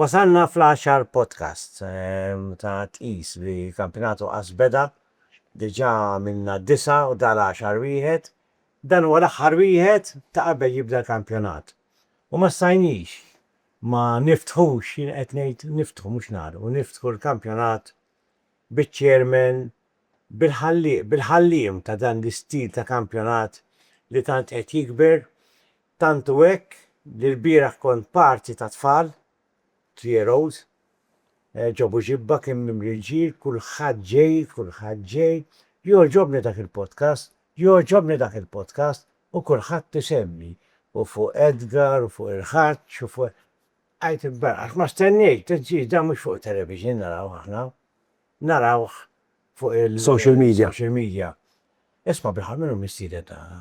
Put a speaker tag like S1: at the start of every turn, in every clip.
S1: Wasalna fl-għaxar podcast ehm, ta' tqis li kampinatu qas beda, diġa minna disa u dal-għaxar wieħed, Dan huwa l-aħħar wieħed ta' qabel jibda l-kampjonat u ma stajniex ma niftħux, jien qed ngħid niftħu mhux nagħlqu, niftħu l-kampjonat biċ-chairman, bil-ħallieq, bil-ħalliem ta' dan l-istil ta' kampjonat li tant qed jikber, tant hu hekk li lbieraħ kont parti tat-tfal Tieroz, Ġabu ġibba kien mimli l-ġir, kulħadd ġej, kulħadd ġej, jogħġobni dak il-podcast, jogħġobni dak il-podcast, u kulħadd isemmi, u fuq Edgar, u fuq il-Ħaġġ, u fuq. Għidt il-baraq, għax ma stennejt, għidt ġir, dan mhux fuq it-television narawh aħna, narawh fuq il-. Social media. Social media. Isma' bil-ħaq min hu mistieden tagħna?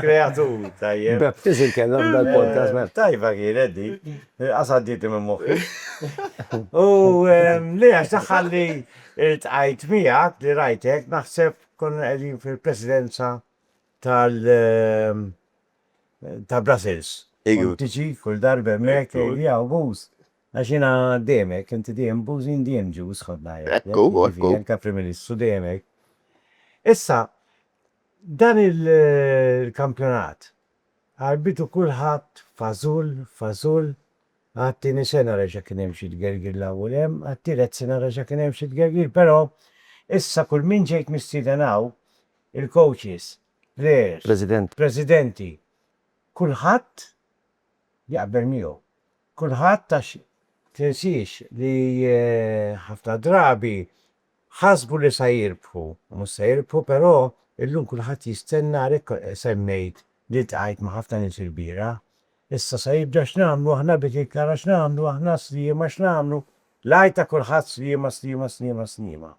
S1: Kreatur, tajjeb. Baptiz il-kellem dal-podcast, man. Tajba kienet di. Qasadditi minn moħħi. U li għax taħħalli il-tqajt miegħek li rajtek naħseb konna qegħdin fil-presidenza tal ta' Brussels. Igu. Tiġi kull darba hemmhekk li hawn buż. Għax jiena demek, inti dejjem bużin dejjem ġuż ħodna. Ekku, ekku. Anke Prim Ministru demek. Issa, Dan il-kampjonat għarbitu kulħadd f'għażul f'għażul, għat-tieni sena reġa' kien hemm xi tgergir 'l hawn u 'l hemm, għat-tielet sena reġa' kien hemm xi tgergir però issa kull min ġejt mistieden hawn, il-coaches, players, presidenti, kulħadd jaqbel miegħu. Kulħadd għax tinsiex li ħafna drabi Ħasbu li sa jirbħu u mhux se jirbħu però illum kulħadd jistenna għalhekk semmejt li ltqajt ma' ħafna nies ilbieraħ. Issa sa jibda x'nagħmlu aħna bdiet il-kara x'nagħmlu aħna sliema x'nagħmlu l-għajt ta' kulħadd sliema sliema sliema sliema.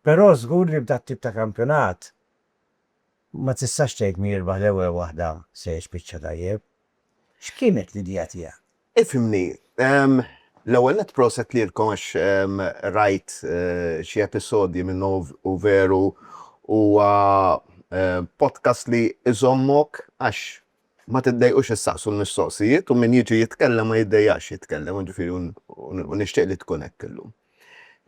S1: Però żgur li b'dat-tip ta' kampjonat Ma tistax tgħid min jirbaħ l-ewwel waħda se jispiċċa tajjeb. X'kienet l-idea tiegħek? Ifhimni, l-ewwel nett proset lilkom għax rajt xi episodji minnu u veru huwa podcast li jżommok għax ma tiddejqux issaqsu l-mistoqsijiet u min jiġi jitkellem ma jiddejjaqx jitkellem u ġifieri u nixtieq li tkun hekk illum.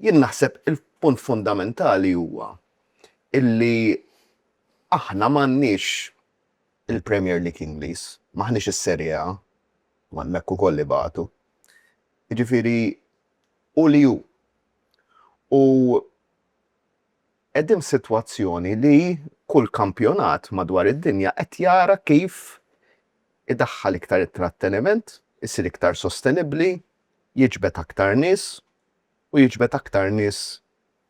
S1: Jien naħseb il-punt fundamentali huwa illi aħna m'għandniex il-Premier League Ingliż, m'aħniex is-Serie A, u hemmhekk ukoll ibatu. Jiġifieri hu li hu. U qegħdin f'sitwazzjoni li kull kampjonat madwar id-dinja qed jara kif idaħħal iktar it-tratteniment, isir iktar sostenibbli, jiġbed aktar nies u jiġbed aktar nies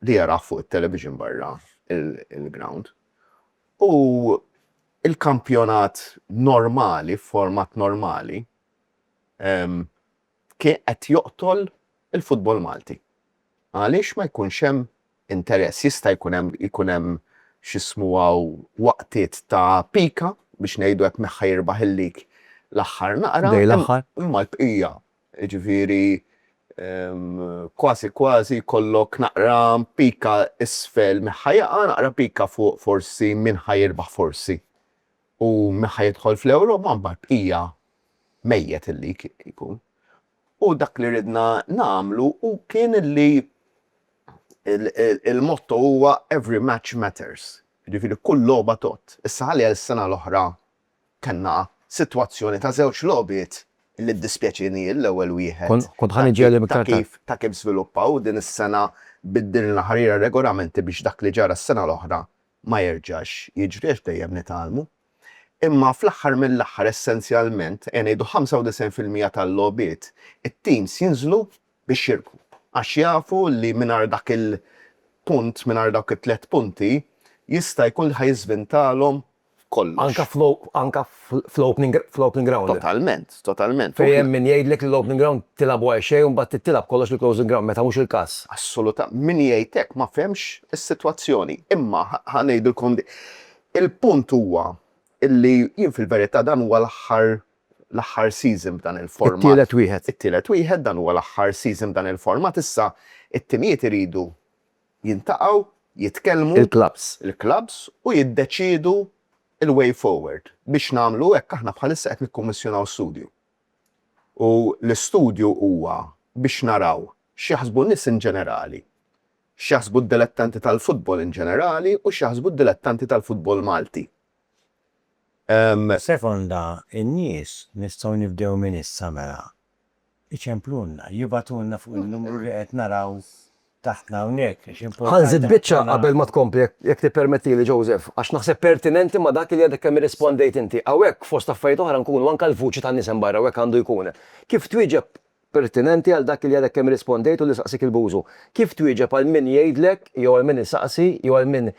S1: li jarah fuq it-television barra l-grawnd u l-kampjonat normali f'format normali kien qed joqtol il-futbol Malti. Għaliex ma jkunx hemm interess? Jista' jkun hemm ikun hemm x'ismu hawn waqtiet ta' pika biex ngħidu hekk min ħa jirbaħ il-lig l-aħħar naqra. Dej l-aħħar. Imma l-bqija Jiġifieri kważi kważi jkollok naqra pika isfel min ħa jaqa', naqra pika fuq forsi min ħa jirbaħ forsi. U min ħa jidħol fl-Ewro ma mbagħad bqija mejjet illi jkun. U dak li ridna nagħmlu hu kien illi il-motto huwa every match matters. Jiġifieri kull logħba tgħodd. Issa għalija s-sena l-oħra Kellna sitwazzjoni ta' żewġ logħbiet li ddispjaċieni l-ewwel wieħed ta' kif ta' kif żviluppaw u din is-sena biddilna ħarira r-regolamenti biex dak li ġara s-sena l-oħra ma jerġax jiġri għax dejjem nitgħallmu. Imma fl-aħħar mill-aħħar essenzjalment ejja ngħidu 95 fil-mija tal-logħbiet it-teams jinżlu biex jirbħu għax jafu li mingħajr dak il-punt mingħajr dawk it-tliet punti jista' jkun li ħa jiżvintalhom f'kollox. Anke fl-opening ground. Totalment, totalment. Fejn hemm min jgħidlek li l-opening ground tilgħabu għal xejn u mbagħad trid tilgħab kollox fil-closing ground meta mhux il-każ. Assolutament. Min jgħid hekk ma fehmx is-sitwazzjoni. Imma ħa ngħidilkom din. Il-punt huwa li jien fil-verità dan huwa l-aħħar l-aħħar season b'dan il-format. It-tielet wieħed. It-tielet wieħed, dan huwa l-aħħar season b'dan il-format. Issa t-timijiet iridu jintaqgħu, jitkellmu, il-klabbs, u jiddeċiedu l-way forward. Biex nagħmlu hekk aħna bħalissa qed nikkummissjonaw studju. U l-istudju huwa biex naraw x'jaħsbu n-nies in ġenerali, x'jaħsbu d-dilettanti tal-futbol in ġenerali u x'jaħsbu d-dilettanti tal-futbol Malti Sekonda n-nies, nistgħu nibdew minn issa mela. Iċemplulna, jibgħatulna fuq in-numru li qed naraw taħtna hawnhekk għax importanti ħafna. Ħa nżid biċċa qabel ma tkompli jekk tippermettili Joseph, għax naħseb pertinenti ma' dak li għadek kemm irrispondejt inti. Hawnhekk fost affarijiet oħra nkunu anke l-vuċi tan-nies hemm barra u hekk għandu jkun. Kif twieġeb pertinenti għal dak li għadek kemm irrispondejt u li saqsiek il-Bużu. Kif twieġeb għal min jgħidlek jew għal min isaqsi jew għal min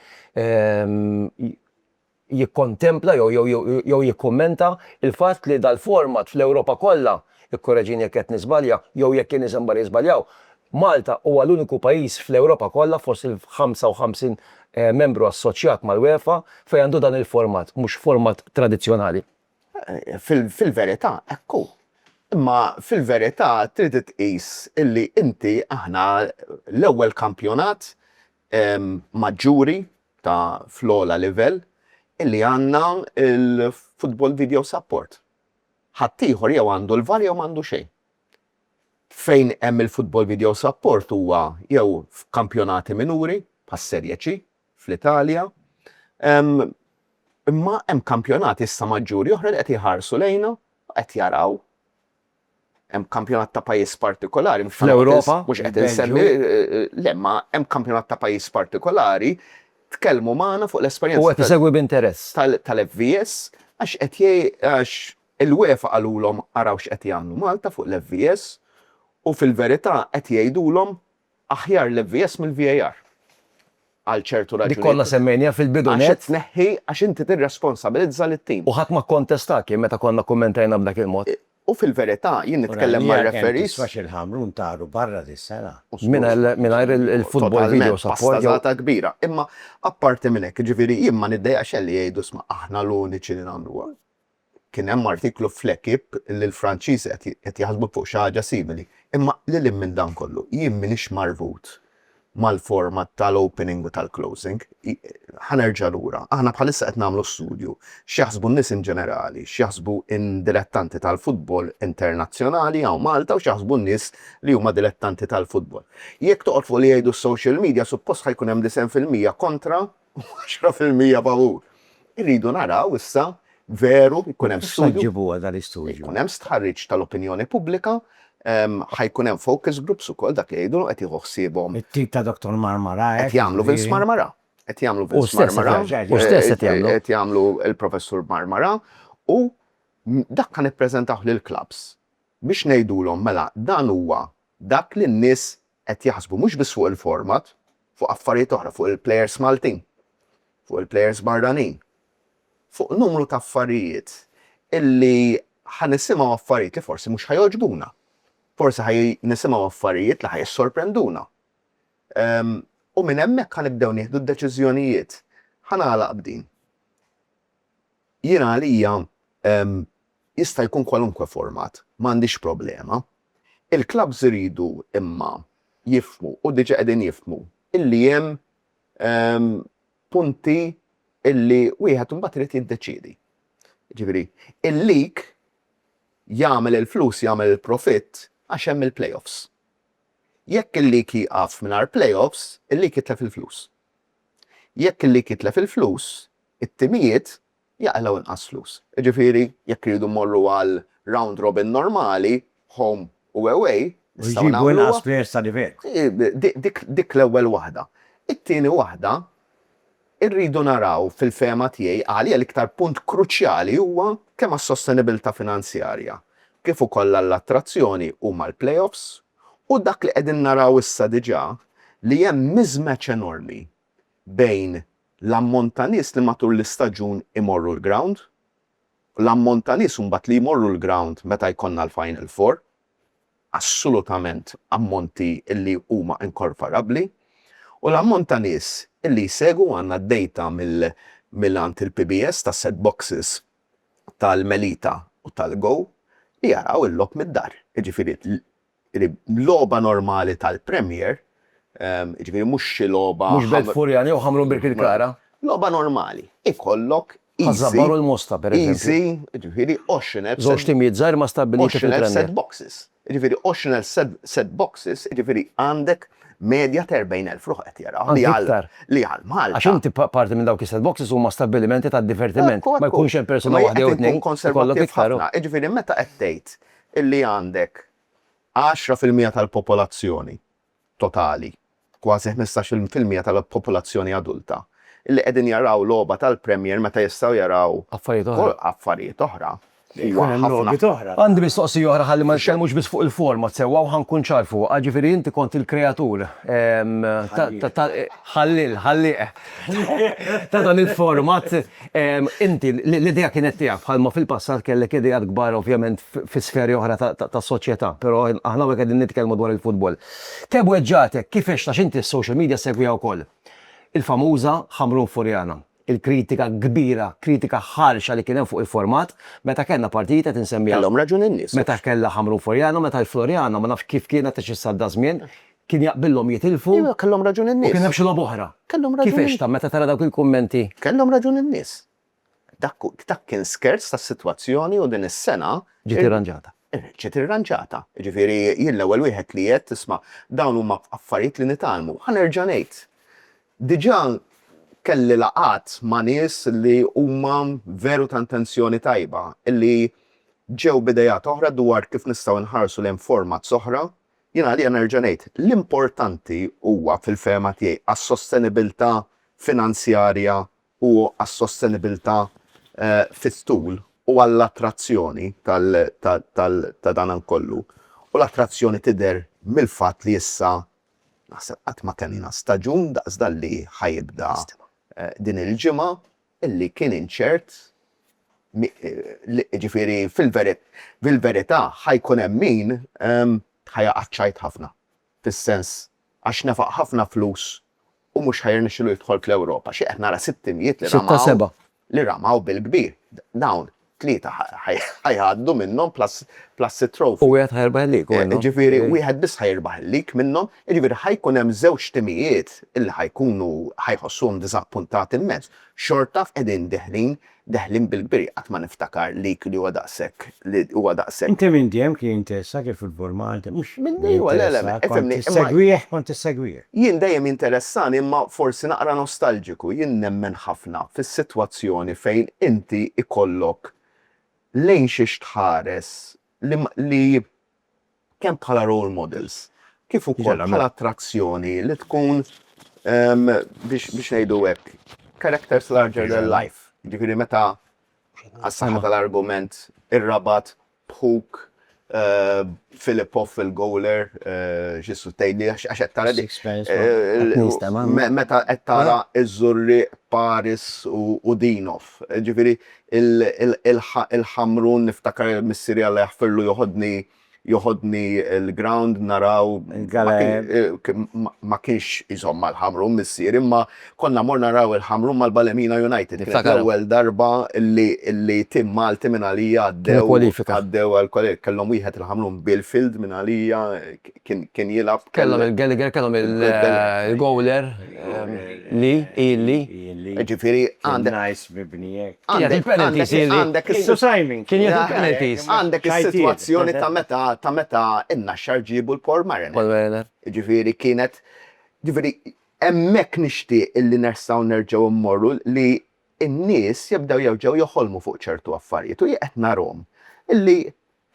S1: jikkontempla jew jew jew jikkummenta l-fatt li dal-format fl-Ewropa kollha, ikkoreġini jekk qed niżbalja jew jekk in-nies hemm barra jiżbaljaw, Malta huwa l-uniku pajjiż fl-Ewropa kollha fost il-ħamsa u ħamsin membru assoċjat mal-UEFA fejn għandu dan il-format, mhux format tradizzjonali. Fil-verità hekk hu. Imma fil-verità trid tqis illi inti aħna l-ewwel kampjonat maġġuri ta' fl-ogħla livell illi għandna l-Football Video Support. Ħaddieħor jew għandu l-var jew m'għandu xejn. Fejn hemm il-Football Video Support huwa jew f'kampjonati minuri, bħas-Serie C, fl-Italja. Imma hemm kampjonati issa maġġuri oħra li qed iħarsu lejna, qed jaraw. Hemm kampjonat ta' pajjiż partikolari. Fl-Ewropa? Mhux qed insemmi. Le, ma hemm kampjonat ta' pajjiż partikolari, tkellmu magħna fuq l-esperjenza. U qed isegwi b'interess. Tal-FVS, għax qed għax il-UEFA qalulhom araw x'qed jagħmlu Malta fuq l-FVS, u fil-verità qed jgħidulhom Aħjar l-MVS mill-VAR. Għal ċertu raġunijiet. Dik konna semmejniha fil-bidu nett. Għax tneħħi, għax inti tirresponsabilizza lit-tim. U ħadd ma kkontestak jien meta konna kkummentajna b'dak il-mod. U fil-verità jien nitkellem mar-referees. Ura, l-ERM tiswa' xil-Ħamrun taru barra dis-sena. Mingħajr il-football video support. Totalment, pastazata kbira. Imma apparti minn hekk, jiġifieri jien ma niddejjaqx xejn li jgħidu isma' aħna l-uniċi li nagħmluha. Kien hemm artiklu fl-Equipe li l-Franċiżi qed jaħsbu fuq xi ħaġa simili. Imma lil hinn minn dan kollu, jien m'iniex marbut mal-format tal-opening u tal-closing. Ħa nerġa' lura. Aħna bħalissa qed nagħmlu studju, x'jaħsbu n-nies in ġenerali, x'jaħsbu n-dilettanti tal-futbol internazzjonali hawn Malta u x'jaħsbu n-nies li huma dilettanti tal-futbol. Jekk toqgħod fuq li jgħidu s-social media, suppost ħa jkun hemm disgħin fil-mija kontra u għaxra fil-mija favur. Irridu naraw issa veru jkun hemm studju. X'se ġġibu għal dan l-istudju? Jkun hemm stħarriġ tal-opinjoni pubblika, ħa jkun hemm focus groups ukoll dak li jgħidulhom qed jieħu ħsiebhom. It-tim ta' Dottor Marmara hekk. Qed jagħmlu Vince Marmara. Qed jagħmlu Vince Marmara. Hu stess qed jagħmlu. Qed jagħmlu l-Professur Marmara u dak ħa nippreżentawh lill-klabbs biex ngħidulhom mela dan huwa dak li n-nies qed jaħsbu mhux biss fuq il-format, fuq affarijiet oħra, fuq il-plejers Maltin, fuq il-plejers barranin, fuq numru ta' affarijiet illi ħa nisimgħu affarijiet li forsi mhux ħa jogħġbuna, forsi ħa nisimgħu affarijiet li ħa jissorprenduna. U minn hemmhekk ħa nibdew nieħdu d-deċiżjonijiet. Ħa nagħlaq b'din. Jiena għalija jista' jkun kwalunkwe format, m'għandix problema, Il-klabbs iridu imma jifhmu, u diġà qegħdin jifhmu, illi hemm punti illi wieħed imbagħad irid jiddeċiedi. Jiġifieri, il-league jagħmel il-flus, jagħmel il-profitt għax hemm il-play-offs. Jekk il-league jieqaf mingħajr play-offs, il-league jitlef il-flus. Jekk il-league jitlef il-flus, it-timijiet jaqilgħu inqas flus. Jiġifieri jekk irridu mmorru għal round robin normali, home u away, nistgħu nagħmluha. U jġibu inqas players ta' livell. Dik l-ewwel waħda. It-tieni waħda, irridu naraw fil-fehma tiegħi għalija l-iktar punt kruċjali huwa kemm għas-sostenibilità finanzjarja kif ukoll għall-attrazzjoni huma l-playoffs u dak li qegħdin naraw issa diġà li hemm mismatch enormi bejn l-ammont ta' nies li matul l-istaġun imorru l-grawnd u l-ammont ta' nies imbagħad li jmorru l-grawnd meta jkollna l-Final Four, assolutament ammonti li huma inkorporabbli, u l-ammont ta' nies li jsegwu, għandna d-dejta minn għand il-PBS tas-set boxes tal-Melita u tal-Go li jaraw il-logħob mid-dar, jiġifieri Jiġifieri logħba normali tal-Premier, jiġifieri mhux xi logħba. Mhux Belt Furjani jew Ħamrun Birkirkara. Logħba normali. Ikollok easy. Ħaż-Żabbar u l-Mosta, pereżempju. Easy, jiġifieri 20 elf. Żewġ timijiet żgħar ma stabbiliti fil-Premier. 20 elf set boxes. Jiġifieri 20 elf set boxes, jiġifieri għandek medja ta' 40 elf ruħ qed jaraw. Anzi iktar. Li għal Malta. Għax inti parti minn dawk is-set boxes huma stabbilimenti tad-divertiment. Ma jkunx hemm persuna waħda jew tnejn. Ekku, ekku. Ikollok iktar. Jiġifieri meta qed tgħid illi għandek għaxra fil-mija tal-popolazzjoni totali, kważi ħmistax-il fil-mija tal-popolazzjoni adulta, illi qegħdin jaraw logħba tal-Premier meta jistgħu jaraw affarijiet oħra. Għandi mistoqsija oħra ħalli ma nitkellmux biss fuq il-format sewwa u ħa nkun ċar fuqha, ġifieri inti kont il-kreatur ta' ħallieq ta' dan il-format. Inti, l-idea kienet tiegħek, bħalma fil-passat kellek ideat kbar ovvjament fi sferi oħra tas-soċjetà, però aħna hawnhekk qegħdin nitkellmu dwar il-futbol. Kemm weġġagħtek, kif għext għax inti s-social media ssegwiha wkoll, il-famuża Ħamrun Furjana, il-kritika kbira, kritika ħarxa li kien hemm fuq il-format meta kellna partijiet qed insemmija. Kellhom raġun in-nies. Meta kellha Ħamrun Furjana, meta l-Floriana, ma nafx kif kienet għax issa għadda żmien, Kien jaqbillhom jitilfu. Iva, kellhom raġun in-nies. U kien hemm xi logħba oħra. Kellhom raġun. Kif għextha meta tara dawk il-kummenti? Kellhom raġun in-nies. Dak dak kien skerz tas-sitwazzjoni u din is-sena. Ġiet irranġata. Ġiet irranġata. Jiġifieri jien l-ewwel wieħed li għedt isma' dawn huma affarijiet li nitgħallmu. Ħa nerġa' ngħid. Diġà kelli laqgħat ma' nies li huma veru ta' intenzjoni tajba, li ġew b'ideat oħra dwar kif nistgħu nħarsu lejn formats oħra Jien għalija nerġa' ngħid, l-importanti huwa fil-fehma tiegħi għas-sostenibilità finanzjarja u għas-sostenibilità fit-tul u għall-attrazzjoni ta' dan kollu, u l-attrazzjoni tidher mill-fatt li issa naħseb qatt ma kellna staġun daqs dan li ħa jibda din il-ġimgħa, li kien inċert, jiġifieri fil-verità ħa jkun hemm min ħa jaqa' ċ-ċajt ħafna, fis-sens għax nefaq ħafna flus u mhux ħa jirnexxilu jidħol fl-Ewropa. Xi qed nara sitt imjiet li ramaw bil-kbir. Dawn tlieta ħa jgħaddu minnhom plus plus it-trophy. U wieħed ħa jirbaħ il-league, u għalhekk. Jiġifieri wieħed biss ħa jirbaħ il-league minnhom, jiġifieri ħa jkun hemm żewġ timijiet li ħa jkunu ħa jħossuhom diżappuntati immens. Xorta qegħdin deħlin deħlin bil-kbir, jien qatt ma niftakar league li huwa daqshekk li huwa daqshekk. Inti minn dejjem kien jinteressak il-futbol Malti, mhux. Minn dejjem, le le, ifhimni. Kont tissegwih, kont tissegwih. Jien dejjem jinteressani imma forsi naqra nostalġiku, jien nemmen ħafna fis-sitwazzjoni fejn inti jkollok lejn xiex tħares li li kemm bħala role models kif ukoll bħala attrazzjoni li tkun biex biex ngħidu hekk characters larger than life, jiġifieri meta għas-saħħa tal-argument ir-rabat b'ħuk Filippo fil-goaler ġissu tgħidli għax qed tara dik. Meta qed tara iż-żurri Paris u Dinov. Ġifieri il-ħamrun niftakar missieri Alla jaħfirlu joħodni joħodni l-ground naraw ma kienx iżomm mal-ħamrun missieri imma Konna mmorru naraw il-Ħamrun mal-Ballymena United, kienet l-ewwel darba li tim Malti minn għalija għaddew għall-kwalifika. Kellhom wieħed il-Ħamrun, Bill Field minn għalija kien jilgħab. Kellhom il-Gallagher, kellhom il-goaler Lee, Ian Lee. Jiġifieri għandek. Nice mibni hekk. Għandek il-penalties Ian Lee. Kien jieħu l-penalties. Għandek is-sitwazzjoni ta' meta n-Naxxar ġiebu l-Paul Mariner. Paul Mariner. Jiġifieri kienet, jiġifieri Hemmhekk nixtieq illi nersgħu nerġgħu immorru li n-nies jibdew jerġgħu joħolmu fuq ċertu affarijiet u jien qed narhom illi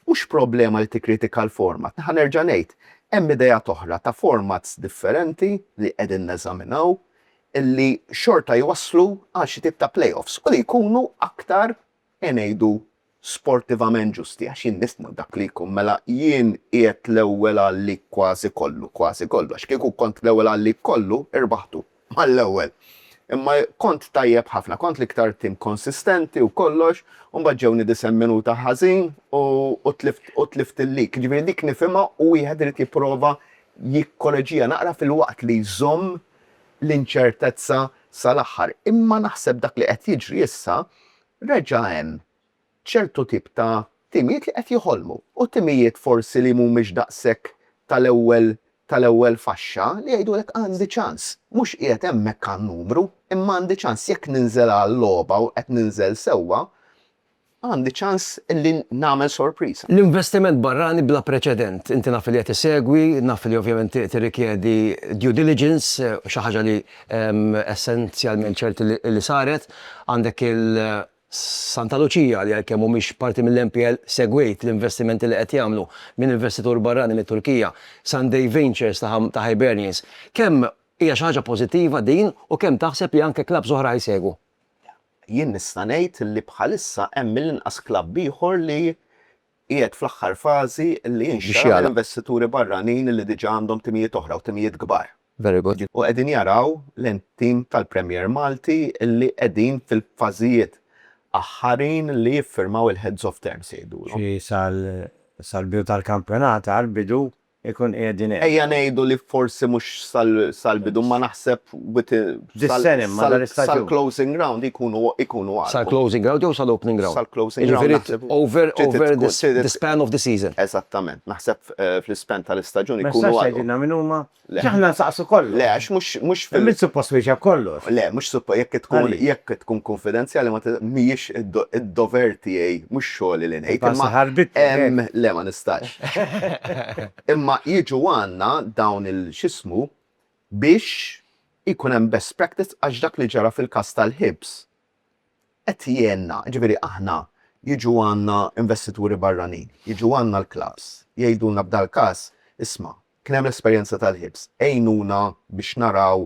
S1: mhux problema li tikkritika l-format, naħa nerġa' ngħid, hemm ideat oħra ta' formats differenti li qegħdin neżaminaw illi xorta jwasslu għal xi tip ta' play-offs u li jkunu aktar e ngħidu, sportivament ġusti, għax jien nifhmu dak li jkun, mela jien qiegħed l-ewwel għal lik kważi kollu, kważi kollu, għax kieku kont l-ewwel għal lik kollu, irbaħtu, mal-ewwel. Imma kont tajjeb ħafna, kont l-iktar tim konsistenti u kollox, u mbagħad ġewni disen minuta ħażin u u tlift u tlift il-lik. Jiġifieri dik nifhimha u wieħed irid jipprova jikkoreġiha naqra filwaqt li jżomm l-inċertezza sal-aħħar. Imma naħseb dak li qed jiġri issa, reġa' hemm ċertu tip ta' timijiet li qed joħolmu, u timijiet forsi li mhumiex daqshekk tal-ewwel tal-ewwel faxxa, li jgħidulek għandi ċans. Mhux qiegħed hemmhekk għan-numru, imma għandi ċans. Jekk ninżel għal-logħba u qed ninżel sewwa, Għandi ċans li nagħmel sorpriża. L-investiment barrani bla preċedent. Inti naf li qed issegwi, naf li ovvjament tirrikjedi due diligence, xi ħaġa li essenzjalment ċert li saret. Għandek il-Santa Lucia li għalkemm mhumiex parti mill-NPL, segwejt l-investimenti li qed jagħmlu minn investitur barrani mit-Turkija, Sunday Ventures ta' Hibernians. Kemm hija xi ħaġa pożittiva din u kemm taħseb li anke klabbs oħra ħa jsegwu? Jien nista' ngħid li bħalissa hemm mill-inqas klabb ieħor li qiegħed fl-aħħar fażi li jinxtara minn investituri barranin li diġà għandhom timijiet oħra u timijiet kbar. U qegħdin jaraw lejn tim tal-Premier Malti li qegħdin fil-fażijiet aħħarin li jiffirmaw il-heads of terms jgħidulhom. Sal-bidu tal-kampjonat, għall-bidu, ikun qiegħdin hemm. Ejja ngħidu li forsi mhux sal-bidu imma naħseb sal-closing round ikunu għarfu. Sal-closing round jew sal-opening round? Sal-closing round. Jiġifieri over the span of the season. Eżattament. Naħseb fl-ispan tal-istaġun ikunu għarfu. Ma tistax tgħidilna min huma? Għax aħna nsaqsu kollox. Le, għax mhux fil-. Mhux suppost twieġeb kollox. Le, mhux suppost. Jekk tkun kunfidenzjali mhijiex id-dover tiegħi, mhux xogħli li ngħid. Imma. Le, ma nistax. Imma jiġu għandna dawn il x'ismu biex ikun hemm best practice għax dak li ġara fil-każ tal-ħibs qed jgħinna. Jiġifieri aħna jiġu għandna investituri barranin, jiġu għandna l-klabbs, jgħidulna b'dal-każ, isma', kien hemm l-esperjenza tal-ħibs, għinuna biex naraw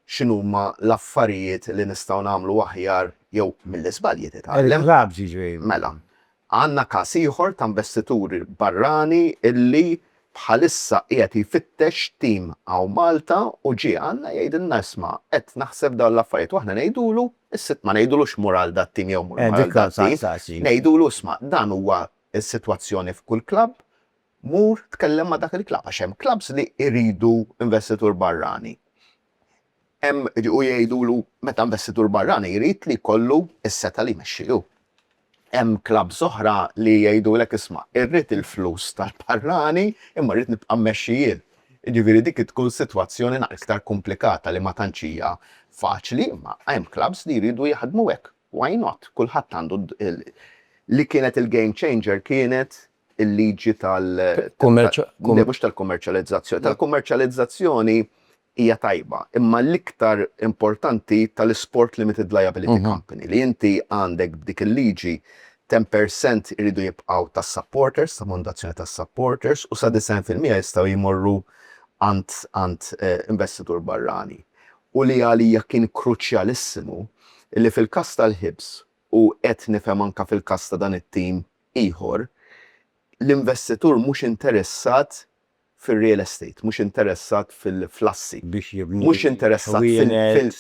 S1: x'inhuma l-affarijiet li nistgħu nagħmlu aħjar jew mill-iżbalji titgħallem. Mela, għandna każ ieħor ta' investitur barrani illi bħalissa qiegħed jfittex tim hawn Malta u ġie għandna jgħidilna isma' qed naħseb dawn l-affarijiet u aħna ngħidulu, is-Sitt ma ngħidulux mur għal dat-tim jew mur għal dat-tim, ngħidulu isma' dan huwa s-sitwazzjoni f'kull klabb, Mur tkellem ma' dak il-klabb għax hemm klabbs li jridu investitur barrani. Hemm u jgħidulu meta investitur barrani jrid li jkollu s-setgħa li jmexxi hu. Hemm klabbs oħra li jgħidulek isma' irrid il-flus tal-barrani imma rrid nibqa' mmexxi jien. Jiġifieri dik tkun sitwazzjoni naqra iktar kumplikata li ma tantx hija faċli imma hemm klabbs li jridu jaħdmu hekk. Why not? Kulħadd għandu li kienet il-game changer kienet il-liġi tal- Kummerċ- Le, mhux tal-kummerċjalizzazzjoni. Tal-kummerċjalizzazzjoni hija tajba, imma l-iktar importanti tal-isport limited liability company, li inti għandek b'dik il-liġi 10% iridu jibqgħu tas-supporters, ta' fondazzjoni tas-supporters, u sa 90 fil-mija jistgħu jmorru għand għand investitur barrani. U li għalija kien kruċjalissimu li fil-każ tal-Hibs, u qed nifhem anke fil-każ ta' dan it-tim ieħor, l-investitur mhux interessat fir-real estate, mhux interessat fil-assi, mhux interessat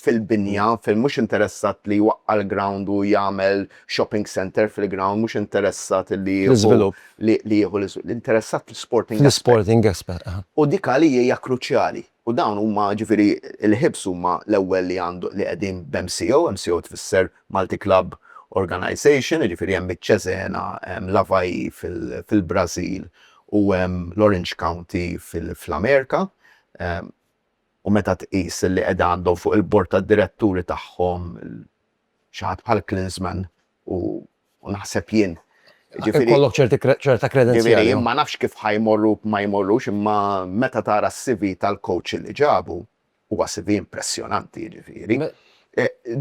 S1: fil-binja, mhux interessat li jwaqqa' l-ground u jagħmel shopping centre fil-ground, mhux interessat li jieħu l-iżvilupp, interessat fl-isporting aspect. U dik għalija hija kruċjali. U dawn huma, ġifieri l-HIBs huma l-ewwel li għandu, li qegħdin b'MCO, MCO tfisser Multi Club Organisation, jiġifieri hemm iċ-Cesena, hemm l-Avaí fil-Brażil u hemm l-Orange County fl-Amerika. U meta tqis li qegħda għandhom fuq il-bord tad-diretturi tagħhom xi ħadd bħal Klinsmann u u naħseb jien. Ġifieri kollok ċerta kredenzjali. Jien ma nafx kif ħajmorru ma jmorrux imma meta tara s-CV tal-coach li ġabu huwa CV impressjonanti ġifieri.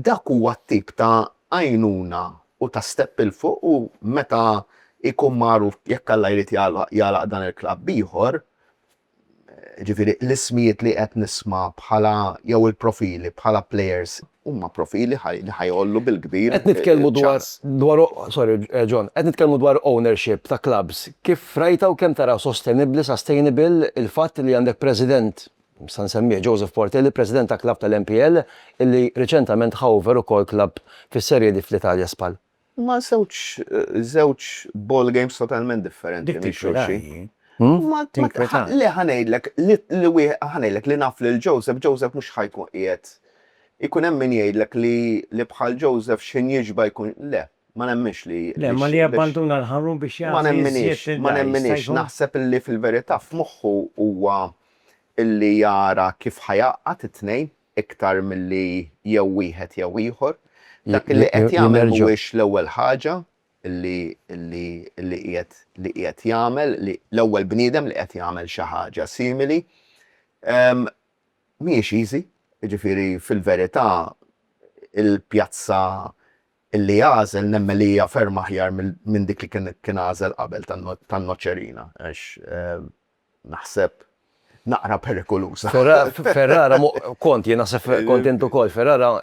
S1: Dak huwa t-tip ta' għajnuna u ta' step 'il fuq u meta jkun magħruf jekk Alla jrid jagħlaq dan il-klabb ieħor, Jiġifieri l-ismijiet li qed nisma' bħala jew il-profili bħala plejers huma profili li ħa jgħollu bil-kbir il-ċans. Qed nitkellmu dwar, dwar, sorry John, qed nitkellmu dwar ownership ta' klabbs. Kif rajtha u kemm taraha sostenibbli, sustainable, il-fatt li għandek president, nista' nsemmih, Joseph Portelli, president ta' klabb tal-NPL, illi riċentament ħa over ukoll klabb fis-Serie D fl-Italja, Spal. Huma żewġ żewġ ball games totalment differenti minn xulxin. Ma tinkwetax. Le ħa ngħidlek li wieħed ħa ngħidlek li naf lil Joseph, Joseph mhux ħa jkun qiegħed ikun hemm min jgħidlek li li bħal Joseph x'injiġba jkun le, ma nemminx li Le, imma li jabbanduna l-ħarun biex jagħti Ma nemminix, ma nemminix, naħseb li fil-verità f'moħħu huwa illi jara kif ħa jgħaqqad it-tnejn, iktar milli jew wieħed jew ieħor. Dak li qed jagħmel mhuwiex l-ewwel ħaġa li qiegħed jagħmel, l-ewwel bniedem li qed jagħmel xi ħaġa simili. Mhijiex easy, jiġifieri fil-verità il-pjazza li għażel nemmen li hija ferm aħjar minn dik li kien għażel qabel tan-Noċerina għax naħseb, naqra perikoluża. Ferrara, kont, jien naħseb kont int ukoll, Ferrara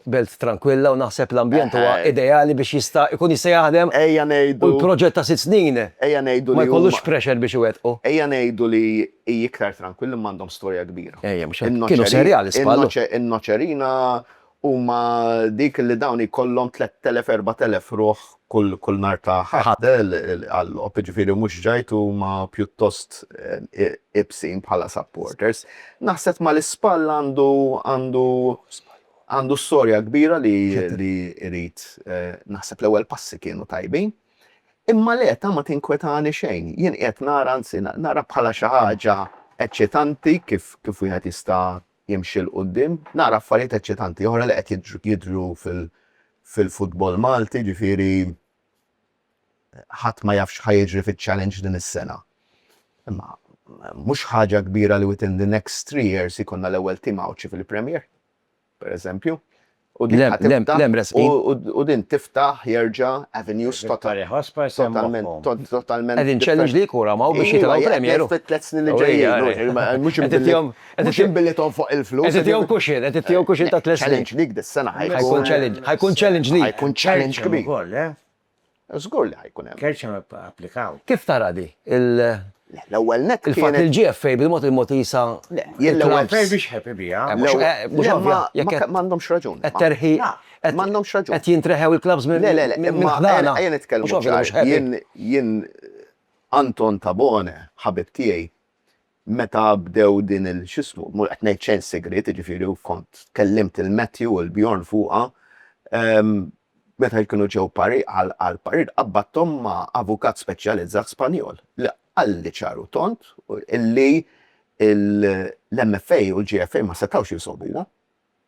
S1: belt trankwilla u naħseb l-ambjent huwa ideali biex jista' jkun jista' jaħdem u l-proġett ta' sitt snin ma jkollux pressure biex iwettqu. Ejja ngħidu li hi iktar trankwilla imma għandhom storja kbira. Ejja, kienu serjali, żball. In-Nocerina huma dik li dawn jkollhom tlett telef, erba' telef ruħ kull nhar ta' Ħadd għal-logħob, jiġifieri mhux ġajd huma pjuttost iebsin bħala supporters. Naħseb mal-ispall għandu għandu għandu storja kbira li li jrid naħseb l-ewwel passi kienu tajbin. Imma l-eta ma tinkwetani xejn. Jien qiegħed nara anzi nara bħala xi ħaġa eċċitanti kif kif wieħed jista' jimxi 'l quddiem. Nara affarijiet eċċitanti oħra li qed jidhru fil-futbol Malti, jiġifieri ħadd ma jaf x'ħa jiġri fiċ-Challenge din is-sena. Imma mhux ħaġa kbira li within the next three years ikollna l-ewwel tim Għawdxi fil-Premier, pereżempju. U din u din tiftaħ jerġa' avenues totalment totalment. Qegħdin challenge li kura ma' u biex jitilgħu premier. Fit tliet snin li ġejjin. Mhux imtillhom mhux imbilithom fuq il-flus. Qed ittihom kuxin, qed ittihom kuxin ta' tliet snin. Challenge dik dis-sena ħajkun. Ħajkun challenge li. Ħajkun challenge kbir. Żgur li ħa jkun hemm. Kerċem applikaw. Kif tara di? Le, l-ewwel nett kienet. Il-fatt li l-GFA bil-mod il-mod jisa. Le, jien l-ewwel. GFA biex ħepi bija. Mhux ovvja. Jekk m'għandhomx raġun. Qed terħi. M'għandhomx raġun. Qed jintreħew il-klabs minn. Le, le, le. Imma ejja nitkellmu. Jien Anton Tabone, ħabib tiegħi, meta bdew din il x'ismu, mhux qed ngħid xejn segriet, jiġifieri u kont kellimt lil Matthew u lil Bjorn fuqha, meta jkunu ġew parir għal għal parir qabbadthom ma' avukat speċjalizzat Spanjol li qalli ċar u tond illi l-MFA u l-GFA ma setgħux jinsolvuha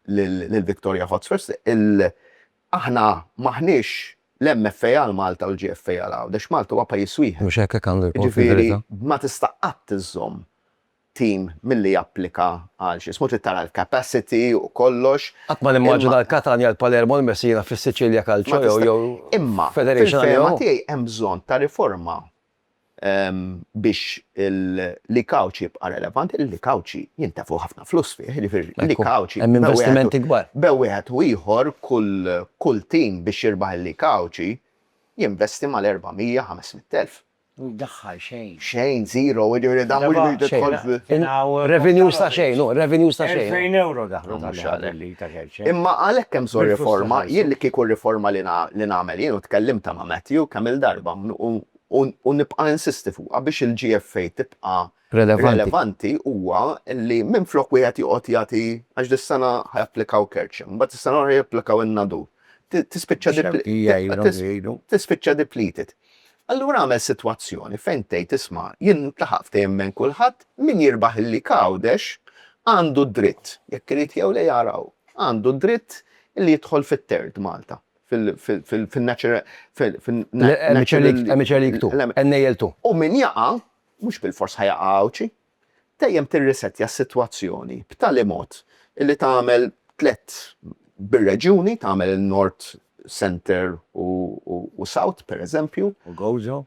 S1: lill-Victoria Hotspurs, aħna m'aħniex l-MFA għal Malta u l-GFA għal Għawdex, Malta huwa pajjiż wieħed. Mhux hekk hekk għandu jkun fil-verità. Jiġifieri ma tista' qatt iżżomm tim milli japplika għal xi ismu, trid tara l-capacity u kollox. Qatt ma nimmaġina l-Catania, l-Palermo, l-Messina fis-Siċilja Calcio jew Federation. Imma fil-fehma tiegħi hemm bżonn ta' riforma biex il-likawċ jibqa' relevanti, il-likawċi jintefgħu ħafna flus fih, jiġifieri l-likawċi. Hemm investimenti kbar. Bejn wieħed u ieħor kull tim biex jirbaħ il-likawċi jinvesti mal-400, 500 elf. U jdaħħal xejn. Xejn, zero, jiġifieri dan mhux biex tidħol. Revenues ta' xejn, revenues ta' xejn. Elfejn ewro daħlu. Imma għalhekk hemm bżonn riforma, jien li kieku r-riforma li li nagħmel jien u tkellimtha ma' Matthew kemm il-darba u nibqa' insisti fuqha biex il-GFA tibqa' relevanti huwa li minflok wieħed joqgħod jagħti għax dis-sena ħa japplikaw Kerċem, imbagħad is-sena l-oħra japplikaw in-Nadur, tispiċċa tispiċċa depleted. Allura agħmel sitwazzjoni fejn tgħid isma' jien ntlaħaq ftehim bejn kulħadd, min jirbaħ il-League Għawdex għandu d-dritt, jekk irid jew le jara hu, għandu d-dritt li jidħol fit-Third Malta, fil-National League Two. U min jaqa', mhux bilfors ħa jaqa' Għawdxi. dejjem tirrisettja s-sitwazzjoni b'tali mod li tagħmel tliet bir-reġjuni, tagħmel Nord, Centre u South, pereżempju. U Gozo?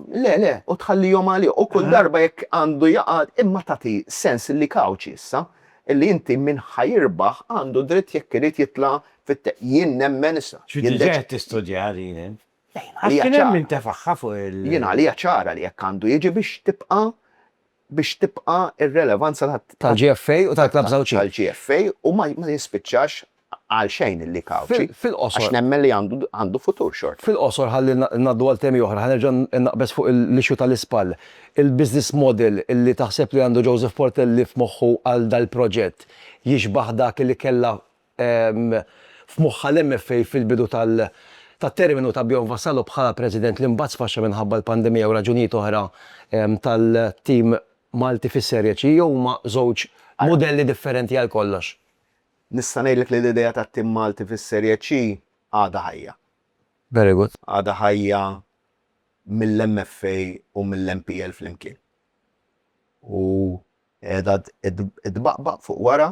S1: Le, le, u tħallihom għalih. U kull darba jekk għandu jaqa', imma tagħti sens li Cauchi issa, li inti min ħa jirbaħ għandu dritt jekk irid jitla' fit-. Jien nemmen issa. Xi diġà qed tistudjaha din int? Għax kien hemm min tefagħha fuq il-. Jien għalija ċara li hekk għandu jiġi biex tibqa' biex tibqa' r-relevanza ta'. Tal-GFA u tal-Klabbs Għawdxin. Tal-GFA u ma jispiċċax għalxejn il-League Għawdxi. Fil-qosor. Għax nemmen li għandu futur xorta. Fil-qosor ħalli ngħaddu għal temi oħra, ħa nerġa' naqbeż fuq l-issue tal-ispall. Il-business model li taħseb li għandu Joseph Portelli f'moħħu għal dal-proġett jixbah dak li kellha f'moħħha l-MFA fil-bidu tat-terminu ta' Bjorn Vassallo bħala President li mbagħad sfaxxa minħabba l-pandemija u raġunijiet oħra tal-tim Malti fis-Serie C jew huma żewġ mudelli differenti għal kollox? Nista' ngħidlek li l-idea tat-tim Malti fis-Serie C għadha ħajja. Very good. Għadha ħajja mill-MFA u mill-MPL flimkien. U qiegħda tbaqbaq fuq wara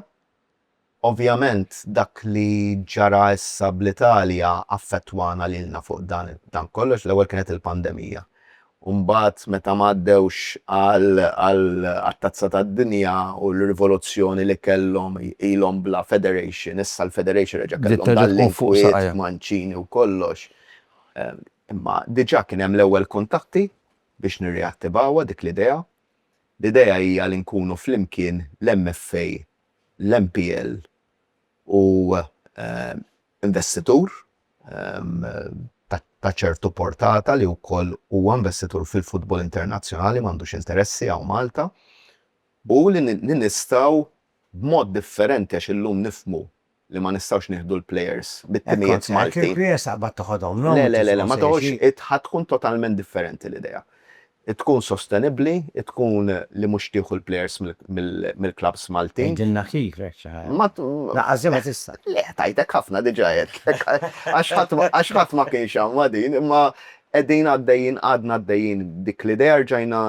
S1: Ovvjament dak li ġara issa bl-Italja affettwana lilna fuq dan kollox, l-ewwel kienet il-pandemija u mbagħad meta ma għaddewx għat-Tazza tad-Dinja u l-rivoluzzjoni li kellhom ilhom bla federation, issa l-federation reġa' kellhom dal-inkwiet Mancini u kollox. Imma diġà kien hemm l-ewwel kuntatti biex nirriattivawha dik l-idea. L-idea hija li nkunu flimkien l-MFA l-NPL hu investitur ta' ċertu portata li wkoll huwa investitur fil-futbol internazzjonali, m'għandux interessi hawn Malta, u li nistgħu b'mod differenti għax illum nifhmu li ma nistgħux nieħdu l-players bit-timijiet Maltin. Hekk kont ngħid, Kirklies taqbad toħodhom lhom. Le, le, le, le, ma toħodx, ħa tkun totalment differenti l-idea. Tkun sostenibbli, tkun li mhux tieħu l-players mill-klabbs Maltin. Għidilna kif hekk xi ħaġa. Ma. Lanqas din ma tista'. Le, tajtek ħafna diġà għedtlek. Għax ħadd ma kienx hawn ma' din, imma qegħdin għaddejjin, għadna għaddejjin b'dik l-idea rġajna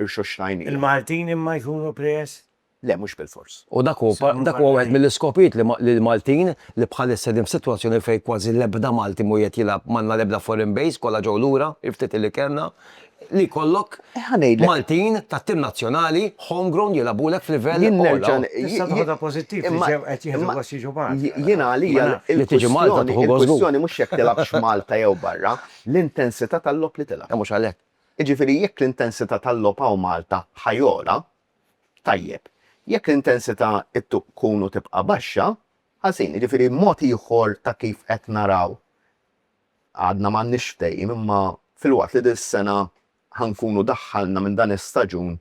S1: rxoxtajniha. Il-Maltin imma jkunu players? Le, mhux bilfors. U dak huwa wieħed mill-iskopijiet li l-Maltin, li bħalissa qegħdin f'sitwazzjoni fejn kważi l-ebda Malti mhu qiegħed jilgħab, m'għandna l-ebda foreign base, kollha ġew lura, il-ftit li kellna, li jkollok Maltin tat-tim nazzjonali, homegrown jilgħabulek f'livell ogħla. Tista' toħodha pożittiv li ġew qed jieħdu gost jiġu Malta. Jiena għalija l-kwistjoni mhux jekk tilgħabx Malta jew barra, l-intensità tal-logħob li tilgħab. Mhux għalhekk. Jiġifieri jekk l-intensità tal-logħob hawn Malta ħa jogħla, Tajjeb, jekk l-intensità tkun u tibqa' baxxa, ħażin. Jiġifieri mod ieħor ta' kif qed naraw, għadna m'għandniex ftehim imma filwaqt li dis-sena ħa nkunu daħħalna minn dan is-staġun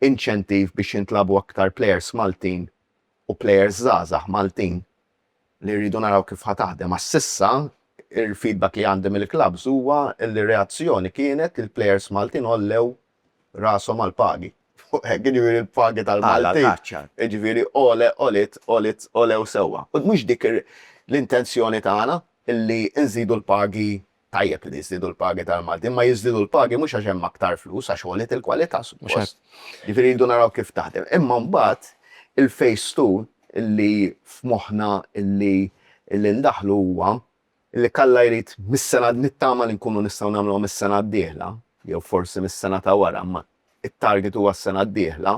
S1: inċentiv biex jintlagħbu aktar plejers Maltin u plejers żgħażagħ Maltin li rridu naraw kif ħa taħdem għax s'issa l-feedback li għandi mill-klabbs huwa li r-reazzjoni kienet li l-plejers Maltin għollew rashom għall-pagi. Fuq hekk, jiġifieri l-pagi tal-Maltin. Jiġifieri għole, għoliet, għoliet, għolew sewwa. U mhux dik l-intenzjoni tagħna li nżidu l-pagi, tajjeb li jiżdiedu l-pagi tal-Maltin, imma jiżdiedu l-pagi mhux għax hemm aktar flus, għax għoliet il-kwalità, suppost. Jiġifieri rridu naraw kif taħdem. Imma mbagħad il-phase two li f'moħħna li ndaħħlu huwa Li kalla jrid mis-sena nittama li nkunu nistgħu nagħmluha mis-sena d-dieħla jew forsi mis-sena ta' wara imma t-target huwa s-sena d-dieħla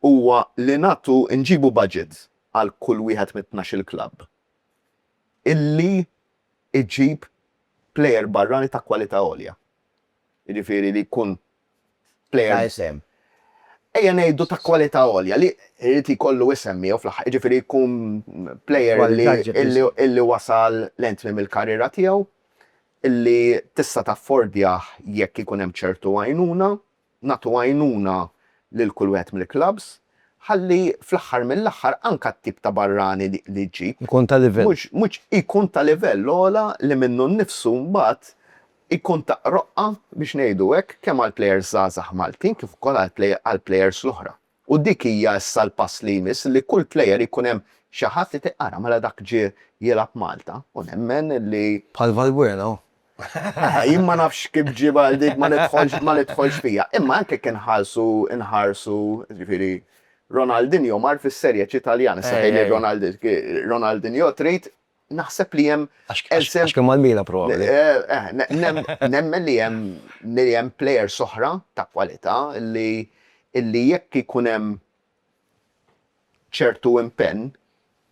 S1: huwa li nagħtu nġibu budget għal kull wieħed mit-tnax-il klabb illi iġib plejer barrani ta' kwalità għolja. jiġifieri li jkun plejer ta' isem, ejja ngħidu ta' kwalità għolja, li jrid jkollu isem miegħu fl-aħħar, jiġifieri jkun plejer li wasal lejn tmiem il-karriera tiegħu, li tista' taffordjah jekk ikun hemm ċertu għajnuna, nagħtu għajnuna lil kull wieħed mill-klabbs, ħalli fl-aħħar mill-aħħar anke t-tip ta' barrani li ġġib, mhux, jkun ta' livell ogħla li minnu nnifsu mbagħad Ikun ta' roqqa, biex ngħidu hekk, kemm għall-plejers żgħażagħ Maltin kif ukoll għall-plejers l-oħra. U dik hija issa l-pass li jmiss li kull plejer ikun hemm xi ħadd li tgħid ara mela dak ġie jilgħab Malta u nemmen li. Bħal Valbuena hu. Jien ma nafx kif ġie bħal dik ma nidħolx ma nidħolx fiha. Imma anke jekk inħarsu inħarsu jiġifieri Ronaldinho mar fis-Serie C Taljana, se tgħidli Ronaldinho trid naħseb li hemm. Għax kien mal-Milan probabbli. Nemmen li hemm li hemm players oħra ta' kwalità li li jekk ikun hemm ċertu impenn,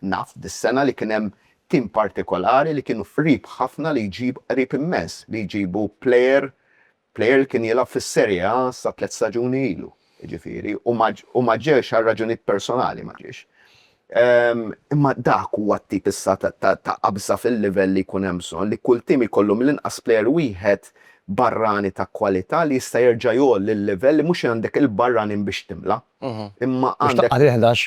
S1: naf dis-sena li kien hemm tim partikolari li kienu qrib ħafna li jġib qrib immens li jġibu player Plejer li kien jilgħab fis-Serie A sa tliet staġuni ilu, jiġifieri, u ma ġiex għal raġunijiet personali ma ġiex. Imma dak huwa t-tip issa ta' qabża fil-livell li jkun hemm bżonn, li kull tim jkollu mill-inqas plejer wieħed barrani ta' kwalità li jista' jerġa' jgħolli l-livell li mhux għandek il-barranin biex timla', imma għandek. Biex taqgħad il-ħdax.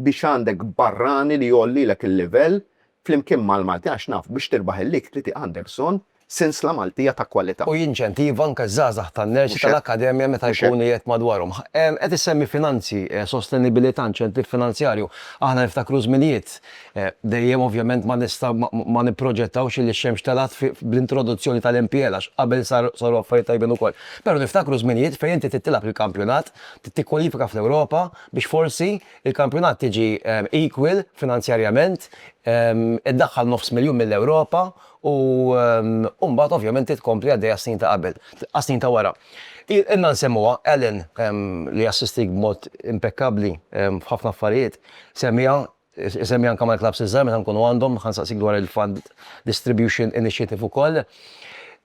S1: Biex għandek barrani li jgħollilek il-livell flimkien mal-Malti għax naf biex tirbaħ il-lig trid għandek bżonn sinsla Maltija ta' kwalità. U jinċentiva anke ż-żgħażagħ tan-nersi tal-akkademja meta jkunu qiegħed madwarhom. Qed issemmi finanzi, sostenibilità, inċentiv finanzjarju. Aħna niftakru żminijiet, dejjem ovvjament ma nista' ma nipproġettawx illi x-xemx telgħet bl-introduzzjoni tal-MPL għax qabel saru affarijiet tajbin ukoll. Però niftakru żminijiet fejn inti trid tilgħab il-kampjonat, trid tikkwalifika fl-Ewropa biex forsi Il-kampjonat tiġi equal finanzjarjament, iddaħħal nofs miljun mill-Ewropa u mbagħad ovvjament trid tkompli għaddej għas-snin ta' qabel, għas-snin ta' wara. Ilna nsemmuha, Alan, li assistik b'mod impekkabbli f'ħafna affarijiet, semmiha, isemmiha anke mal-klabbs iż-żgħar meta nkunu għandhom, ħa nsaqsik dwar il-fund distribution initiative ukoll.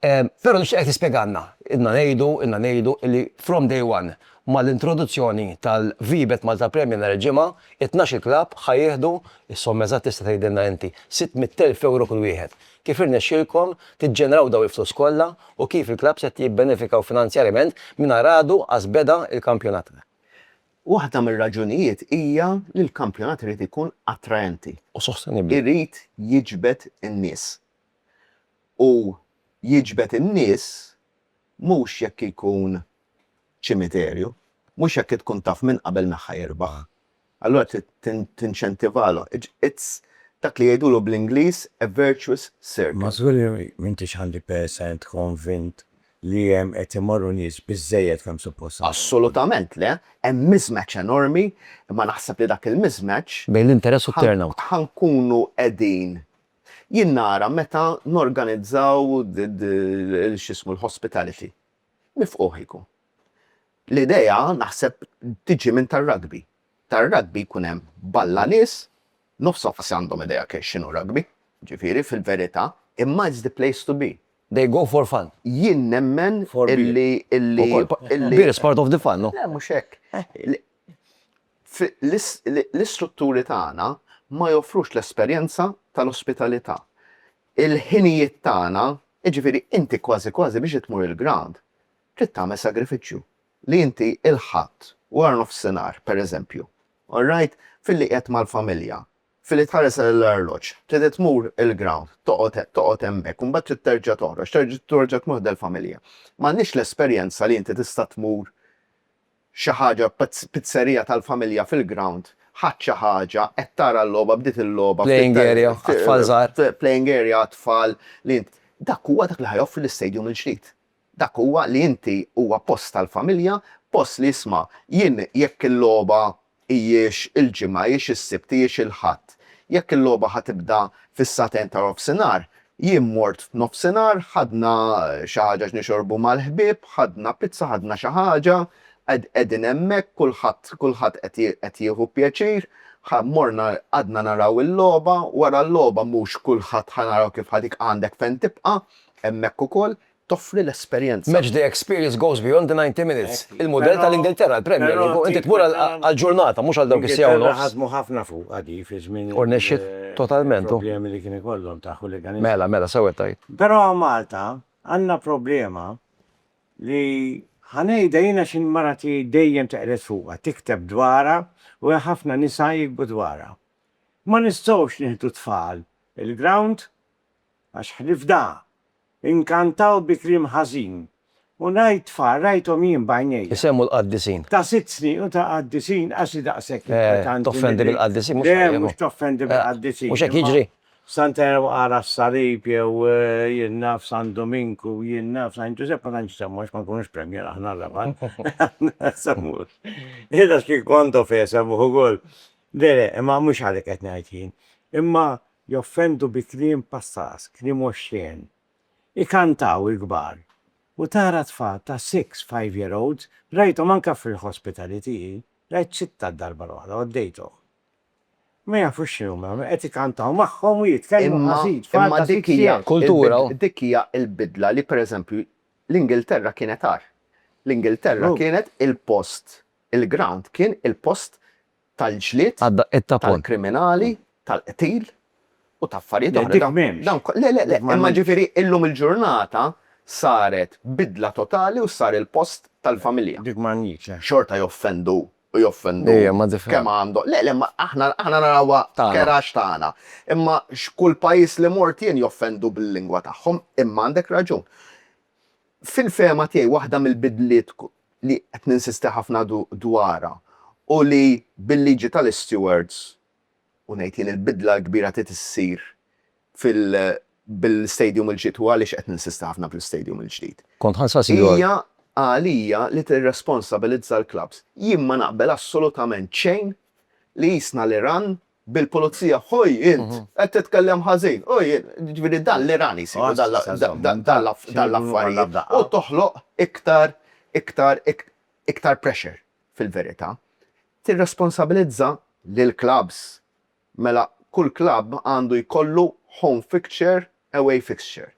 S1: Però nixtieqek tispjegalna, ilna ngħidu, ilna ngħidu li from day one, Mal-introduzzjoni tal-VBET Malta Premier nhar il-Ġimgħa, it-tnax-il klabb ħa jieħdu, is-somma eżatt tista' tgħidilna inti, 600 elf ewro kull wieħed. Kif irnexxielkom tiġġeneraw dawn il-flus kollha u kif il-klabbs qed jibbenefikaw finanzjarjament mingħajr għadu qas beda l-kampjonat? Waħda mir-raġunijiet hija li l-kampjonat irid ikun attraenti. U sostenibbli. Irid jiġbed in-nies. U jiġbed in-nies mhux jekk ikun ċimiterju, mhux jekk tkun taf minn qabel min ħa jirbaħ. Allura trid tinċentivalhom. It's dak li jgħidulu bl-Ingliż a virtuous circle. Ma żgur li m'intix 100 percent konvint li hemm qed imorru nies biżżejjed kemm suppost għandhom. Assolutament le. Hemm mismatch enormi, imma naħseb li dak il-mismatch. Bejn l-interess u t-turnout. Ħa nkunu qegħdin. Jien nara meta norganizzaw x'ismu l-hospitality Mifqugħ ikun. L-idea naħseb tiġi minn tar-rugby. Tar-rugby jkun hemm balla nies, nofshom forsi għandhom idea kif x'inhu rugby, ġifieri fil-verità, imma it's the place to be. They go for fun. Jien nemmen illi, illi, illi. Beer is part of the fun, no? Le mhux hekk. L-istrutturi tagħna ma joffrux l-esperjenza tal-ospitalità. Il-ħinijiet tagħna, jiġifieri inti kważi kważi biex tmur il-ground trid tagħmel sagrifiċċju li inti il-Ħadd wara nofsinhar, pereżempju, all right, filli qiegħed mal-familja, filli tħares lejn l-arloġġ, trid tmur il-ground, toqgħod toqgħod hemmhekk u mbagħad trid terġa' toħroġ, terġa' tmur ħdel familja. M'għandniex l-esperjenza li inti tista' tmur Xi ħaġa pizzerija tal-familja fil-ground, ħadt xi ħaġa, qed tara l-logħba, bdiet il-logħba. Playing area għat-tfal żgħar. Playing area għat-tfal li int. Dak huwa dak li ħa joffri l-istadium il-ġdid. Dak huwa li inti huwa post tal-familja, post li isma' jien jekk il-logħba hijiex il-Ġimgħa, hijiex is-Sibt, hijiex il-Ħadd. Jekk il-logħba ħa tibda fis-sagħtejn ta' nofsinhar, jien mort f'nofsinhar, ħadna xi ħaġa x'nixorbu mal-ħbieb, ħadna pizza, ħadna xi ħaġa, qegħdin hemmhekk, kulħadd, kulħadd qed jieħu pjaċir, ħa morna qgħadna naraw il-logħba, wara l-logħba mhux kulħadd ħa naraw kif ħa dik għandek fejn tibqa', hemmhekk ukoll, toffri l-esperjenza. Match day experience goes beyond the 90 minutes. Il-mudell tal-Ingilterra, il-Premier League, hu inti tmur għal ġurnata, mhux għal dawk is-siegħa u nofs. U rnexxiet totalment, hu. Mela, mela, sew qed tgħid. Però Malta għandna problema li ħa ngħidha jien għax marati dejjem teqred fuqha, tikteb dwarha u hemm ħafna nisa jiktbu dwarha. Ma nistgħux nieħdu t-tfal il-ground għax ħlif da, Inkantaw bi kliem ħażin. U ngħid tfal rajthom jien b'għajnejja. Isemmu l-qaddisin. Ta' sitt snin u ta' qaddisin għax hi daqshekk inkwetanti milli. Toffendi bil-qaddisin mhux tajjeb. Le, mhux toffendi bil-qaddisin. Mhux hekk jiġri? Santa Erwa ara s-Salib jew jien naf San Duminku, jien naf San Ġużepp ma tantx isemmu għax ma nkunux premier aħna r-rabat. Ma nsemmux. Qiegħda x'kien kont of esemmuh ukoll. Le, le, imma mhux għalik qed ngħid jien. Imma Joffendu bi kliem passas, kliem oxxen. Ikantaw il-kbar. U tara tfal ta' six, five year olds, rajthom anke fil-hospitality hi, rajt sitta d-darba l-oħra, għoddejthom. Ma jafux x'inhuma jagħmlu, qed ikantaw magħhom u jitkellmu ħażin, tfal ta' six years. Kultura u. Imma dik hija l-bidla li per eżempju l-Ingilterra kienet agħar. L-Ingilterra kienet il-post, il-ground kien il-post tal-ġlied, tal-kriminali, tal-qtil u ta' affarijiet oħra. Le, dik m'hemmx. Le, le, le, imma ġifieri illum il-ġurnata saret bidla totali u sar il-post tal-familja. Dik m'għandniex, le. Xorta joffendu u joffendu kemm għandhom. Le, le, ma aħna narawha care għax tagħna. Imma x'kull pajjiż li mort jien joffendu bil-lingwa tagħhom, imma għandek raġun. Fil-fehma tiegħi waħda mill-bidliet li qed ninsisti ħafna dwarha u li bil-liġi tal-istewards, u ngħid jien il-bidla l-kbira trid issir bil-istadium il-ġdid, u għaliex qed ninsisti ħafna fl-istadium il-ġdid, hija għalija li tirresponsabilizza l-klabbs. Jien ma naqbel assolutament xejn li qisna l-Iran bil-pulizija, ħoj int, qed titkellem ħażin, ħoj int, jiġifieri dan l-Iran isiru dawn l-affarijiet u toħloq iktar, iktar, iktar pressure fil-verità. Tirresponsabilizza lill-klabbs, mela kull klabb għandu jkollu home fixture, away fixture.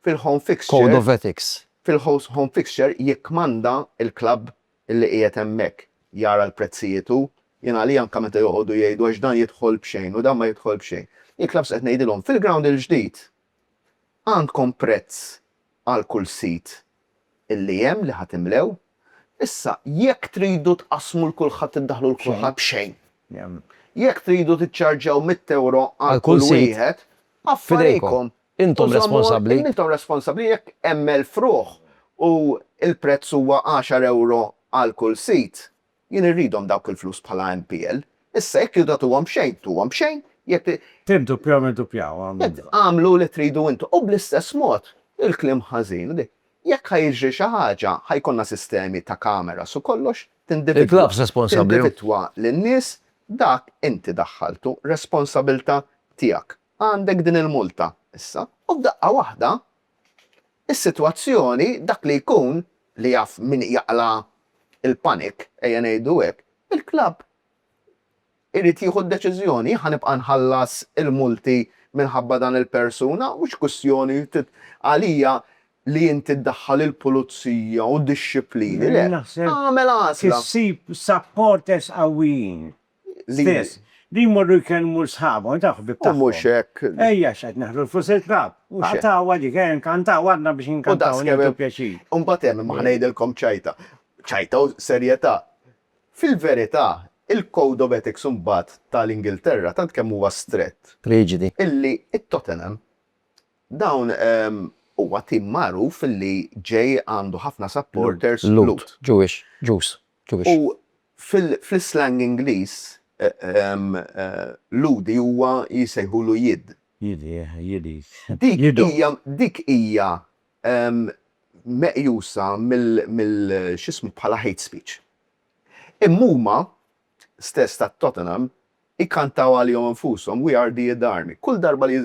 S1: Fil-home fixture. Code of ethics. Fil-home fixture jikkmanda l-klabb illi qiegħed hemmhekk jara l-prezzijiet hu, jien għalija anke meta joqogħdu jgħidu għax dan jidħol b'xejn u dan ma jidħol b'xejn. Il-klabbs qed ngħidilhom fil-ground il-ġdid għandkom prezz għal kull sit illi hemm li ħa timlew, issa jekk tridu tqassmu 'l kulħadd iddaħħlu 'l kulħadd b'xejn. Jekk tridu tiċċarġjaw mitt ewro għal kull wieħed, affarijkom. Intom responsabbli. Użommu intom responsabbli jekk hemm elf ruħ u l-prezz huwa għaxar ewro għal kull sit. Jien irridhom dawk il-flus bħala MPL. Issa jekk tridu tagħtuhom b'xejn, tuhom b'xejn, jekk. Tirdupjaw irdupjaw, għamlu bla. Agħmlu li tridu intom. U bl-istess mod, il-kliem ħażin, jekk ħa jiġri xi ħaġa, ħa jkollna sistemi ta' kameras u kollox, tindividwa. Il-klabbs responsabbli. Tindividwa lin-nies, dak inti daħħaltu, responsabilità tiegħek. Għandek din il-multa issa. U f'daqqa waħda, is-sitwazzjoni, dak li jkun, li jaf min jaqla' l-panic, ejja ngħidu hekk, il-klabb irid jieħu d-deċiżjoni, ħa nibqa' nħallas il-multi minħabba dan il-persuna, mhux kwistjoni għalija li inti ddaħħal il-pulizija u d-dixxiplini, le, agħmel għażla. Trid issib supporters qawwijin. stess. Li jmorru jkellmu l-sħabhom, u jtaww ħbieb tagħhom. U mhux hekk. Ejja x'qed neħlu l-flus il-klabb. Mhux hekk. Għatawha dik, ejja nkantaw għadna biex inkantaw u nieħdu pjaċir. U mbagħad hemm, imma ħa ngħidilkom ċajta. Ċajta u serjetà. Fil-verità, il-code of ethics imbagħad ta' l-Ingilterra tant kemm huwa strett. Riġidi. Illi t-Tottenham, dawn huwa tim magħruf illi ġej għandu ħafna supporters Lhud. Lhud, Jewish, Ġus. U fl-islang Ingliż, lhudi huwa jsejħulu jid. Jid, yeah, jid, jid. Dik hija meqjusa mill, x'ismu, bħala hate speech. Imma huma stess tat-Tottenham Jkantaw għalihom infushom, We are the Id Army. Kull darba li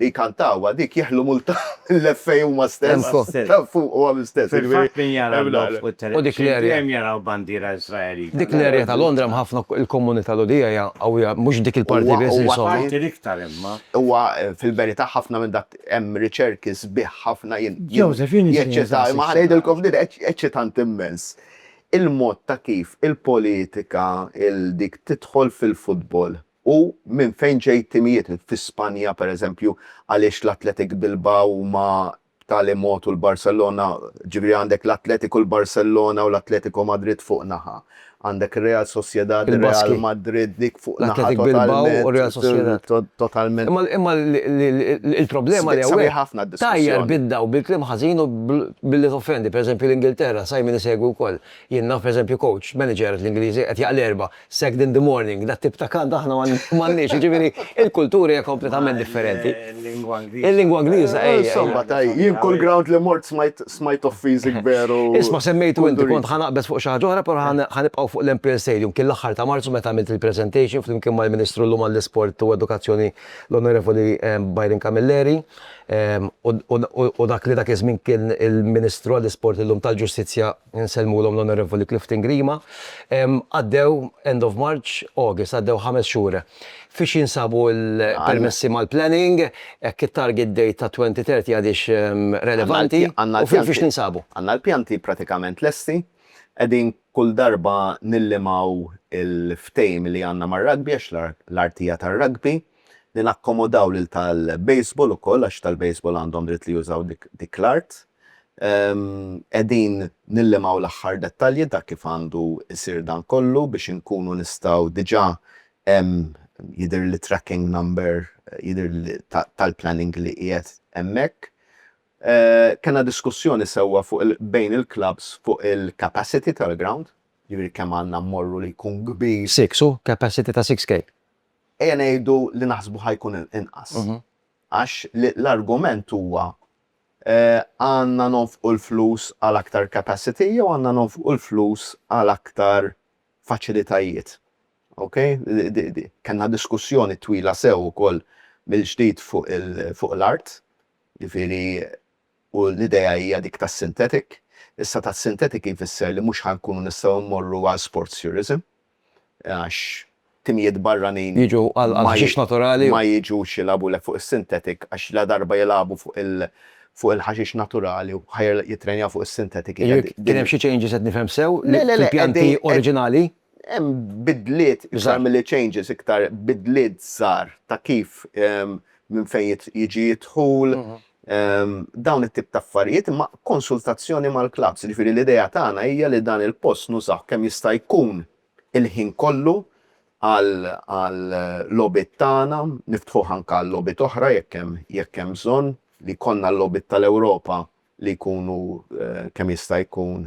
S1: jkantawha dik jeħlu multa mill-FA huma stess. Ta' fuqhom stess. Fil-fatt min jara l-logħob fuq it-television dejjem jaraw bandiera Iżraelita. Dik l-area ta' Londra hemm ħafna, il-komunità Lhudija hija qawwija, mhux dik il-parti biss insomma. Huwa parti l-iktar imma. Huwa fil-verità ħafna minn dak hemm riċerki sbieħ ħafna jien. Joseph, jien. Jeċċita, imma ħa ngħidilkom din eċċitanti immens. il-mod ta' kif il-politika il dik tidħol fil-futbol u minn fejn ġej timijiet fi Spanja per eżempju għaliex l-Athletic Bilbao huma b'tali mod u l-Barcellona ġifieri għandek l-Athletic u l-Barcellona u l-Atletico Madrid fuq naħa għandek ir-Real Sociedad u r-Real Madrid dik fuq naħa totalment totalment imma imma il-problema li hawnhekk tajjar bid-dawl bil-kliem ħażin u Billi toffendi, pereżempju, l-Ingilterra, Simon isegwi wkoll, Jien naf, pereżempju, coach, manager, l-Ingliżi, qed jaqla' l-Erbgħa, sacked in the morning, dat-tip ta' kant aħna m'għandniex, jiġifieri il-kultura hija kompletament differenti. Mal-lingwa Ingliża. Il-lingwa Ingliża, ejja. Insomma, tajjeb, jien kull ground li mort smajt of physic veru kundurizzi. Isma', semmejtu inti, kont ħa naqbeż fuq xi ħaġa oħra, però ħa nibqgħu fuq l-Empire Stadium. Kien l-aħħar ta' Marzu meta għamilt il-presentation flimkien mal-Ministru llum għall-Isport u Edukazzjoni, l-Onorevoli Byron Camilleri. u dak li dak iż-żmien kien il-Ministru għall-Isport illum tal-Ġustizzja nsellmulhom l-Onorevoli Clifton Grima. Għaddew end of March, August, għaddew ħames xhur. Fiex jinsabu l-permessi mal-planning, hekk it-target date ta' 2030 għadhiex relevanti, u fiex ninsabu? Għandna l-pjanti pratikament lesti, qegħdin kull darba nillimgħu l-ftehim li għandna mar-rugby għax l-art hija tar-rugby. li nakkomodaw lil tal-baseball ukoll għax tal-baseball għandhom dritt li jużaw dik l-art. Qegħdin nillimaw l-aħħar dettalji ta' kif għandu jsir dan kollu biex inkunu nistgħu diġà hemm jidhirli tracking number jidhirli tal-planning li qiegħed hemmhekk. Kellna diskussjoni sewwa fuq il bejn il-klabbs fuq il-capacity tal-ground, jiġifieri kemm għandna mmorru li jkun kbir. Six, hu? Capacity ta' six K. Ejja ngħidu li naħsbu ħa jkun inqas. Għax l-argument huwa għandna nonfqu l-flus għal aktar capacity jew għandna nonfqu l-flus għal aktar faċilitajiet. Okay? Kellna diskussjoni twila sew ukoll mill-ġdid fuq l-art, jiġifieri u l-idea hija dik tas-synthetic. Issa tas-synthetic jfisser li mhux ħa nkunu nistgħu mmorru għal sports tourism għax timijiet barranin ma jiġux jilagħbulek fuq is-synthetic għax ladarba jilagħbu fuq il-ħaxix naturali u ħa jittrenjaw fuq is-synthetic. Kien hemm xi changes qed nifhem sew fil-pjanti oriġinali? Hemm bidliet iktar milli changes, iktar bidliet żgħar ta' kif minn fejn jiġi d-dħul, dawn it-tip ta' affarijiet, imma konsultazzjoni mal-klabbs. Jiġifieri l-idea tagħna hija li dan il-post nużawh kemm jista' jkun il-ħin kollu għal-logħbiet tagħna, niftħuh anke għal-logħbiet oħra jekk hemm bżonn, li jkollna l-logħbiet tal-Ewropa li jkunu kemm jista' jkun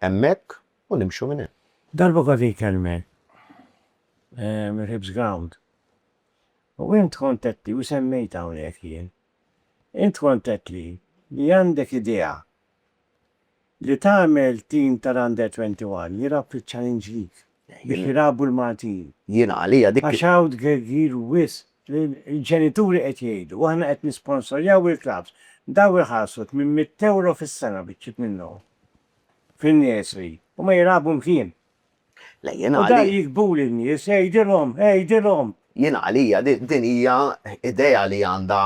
S1: Hemmhekk u nimxu minn hemm. Darba kont inkellmek mill-Hibs Ground u int kont għedtli u semmejtha hawnhekk jien. Int kont għedtli li għandek idea li tagħmel tim tal-Under 21 jirrappiċċa l-Inġliż. biex jilagħbu l-Maltin. Jiena għalija dik. Għax hawn tgergir wisq li l-ġenituri qed jgħidu, aħna qed nisponsorjaw il-klabbs, dawn iħallsu tmien mitt ewro fis-sena biċċiet minnhom fin-nursery u ma jilagħbu mkien. Le jiena għalija. U dan jigdbuli n-nies, għidilhom, għidilhom! Jiena għalija din hija idea li għandha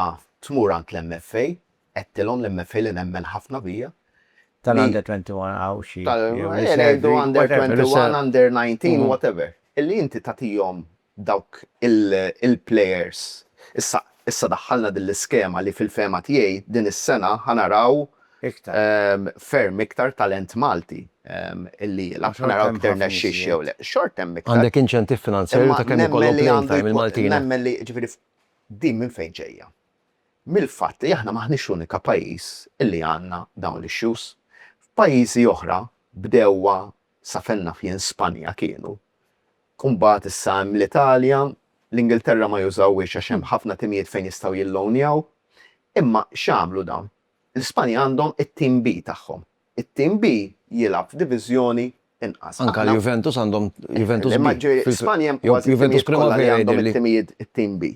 S1: tmur għand l-MFA, Għedtilhom li mmefhi li nemmen ħafna bija, li. Tal-Under 21 hawn xi. Tal, ejja ngħidu Under 21, Under 19, whatever. Illi inti tagħtihom dawk il-players. Issa, issa daħħalna din l-iskema li fil-fehma tiegħi din is-sena ħa naraw. Iktar. Ferm iktar talent Malti illi jilgħab. Ħa naraw jekk irnexxiex jew le. Xorta hemm iktar. Għandek inċentiv finanzjarju ta' kemm ikollhom playing time il-Maltin. Nemmen li, ġifieri, din minn fejn ġejja? mill-fatt li aħna m'aħniex l-unika pajjiż li għandna dawn l-issues. F'pajjiżi oħra bdewha, sa fejn naf jien Spanja kienu, u mbagħad issa hemm l-Italja, l-Ingilterra ma jużawhiex għax hemm ħafna timijiet fejn jistgħu jillownjaw. Imma x'għamlu dawn? L-Ispanja għandhom it-Team B tagħhom. It-Team B jilgħab f'diviżjoni inqas. Anke l-Juventus għandhom Juventus B. Imma ġifieri Spanja hemm kważi t-timijiet kollha li għandhom it-timijiet it-Team B.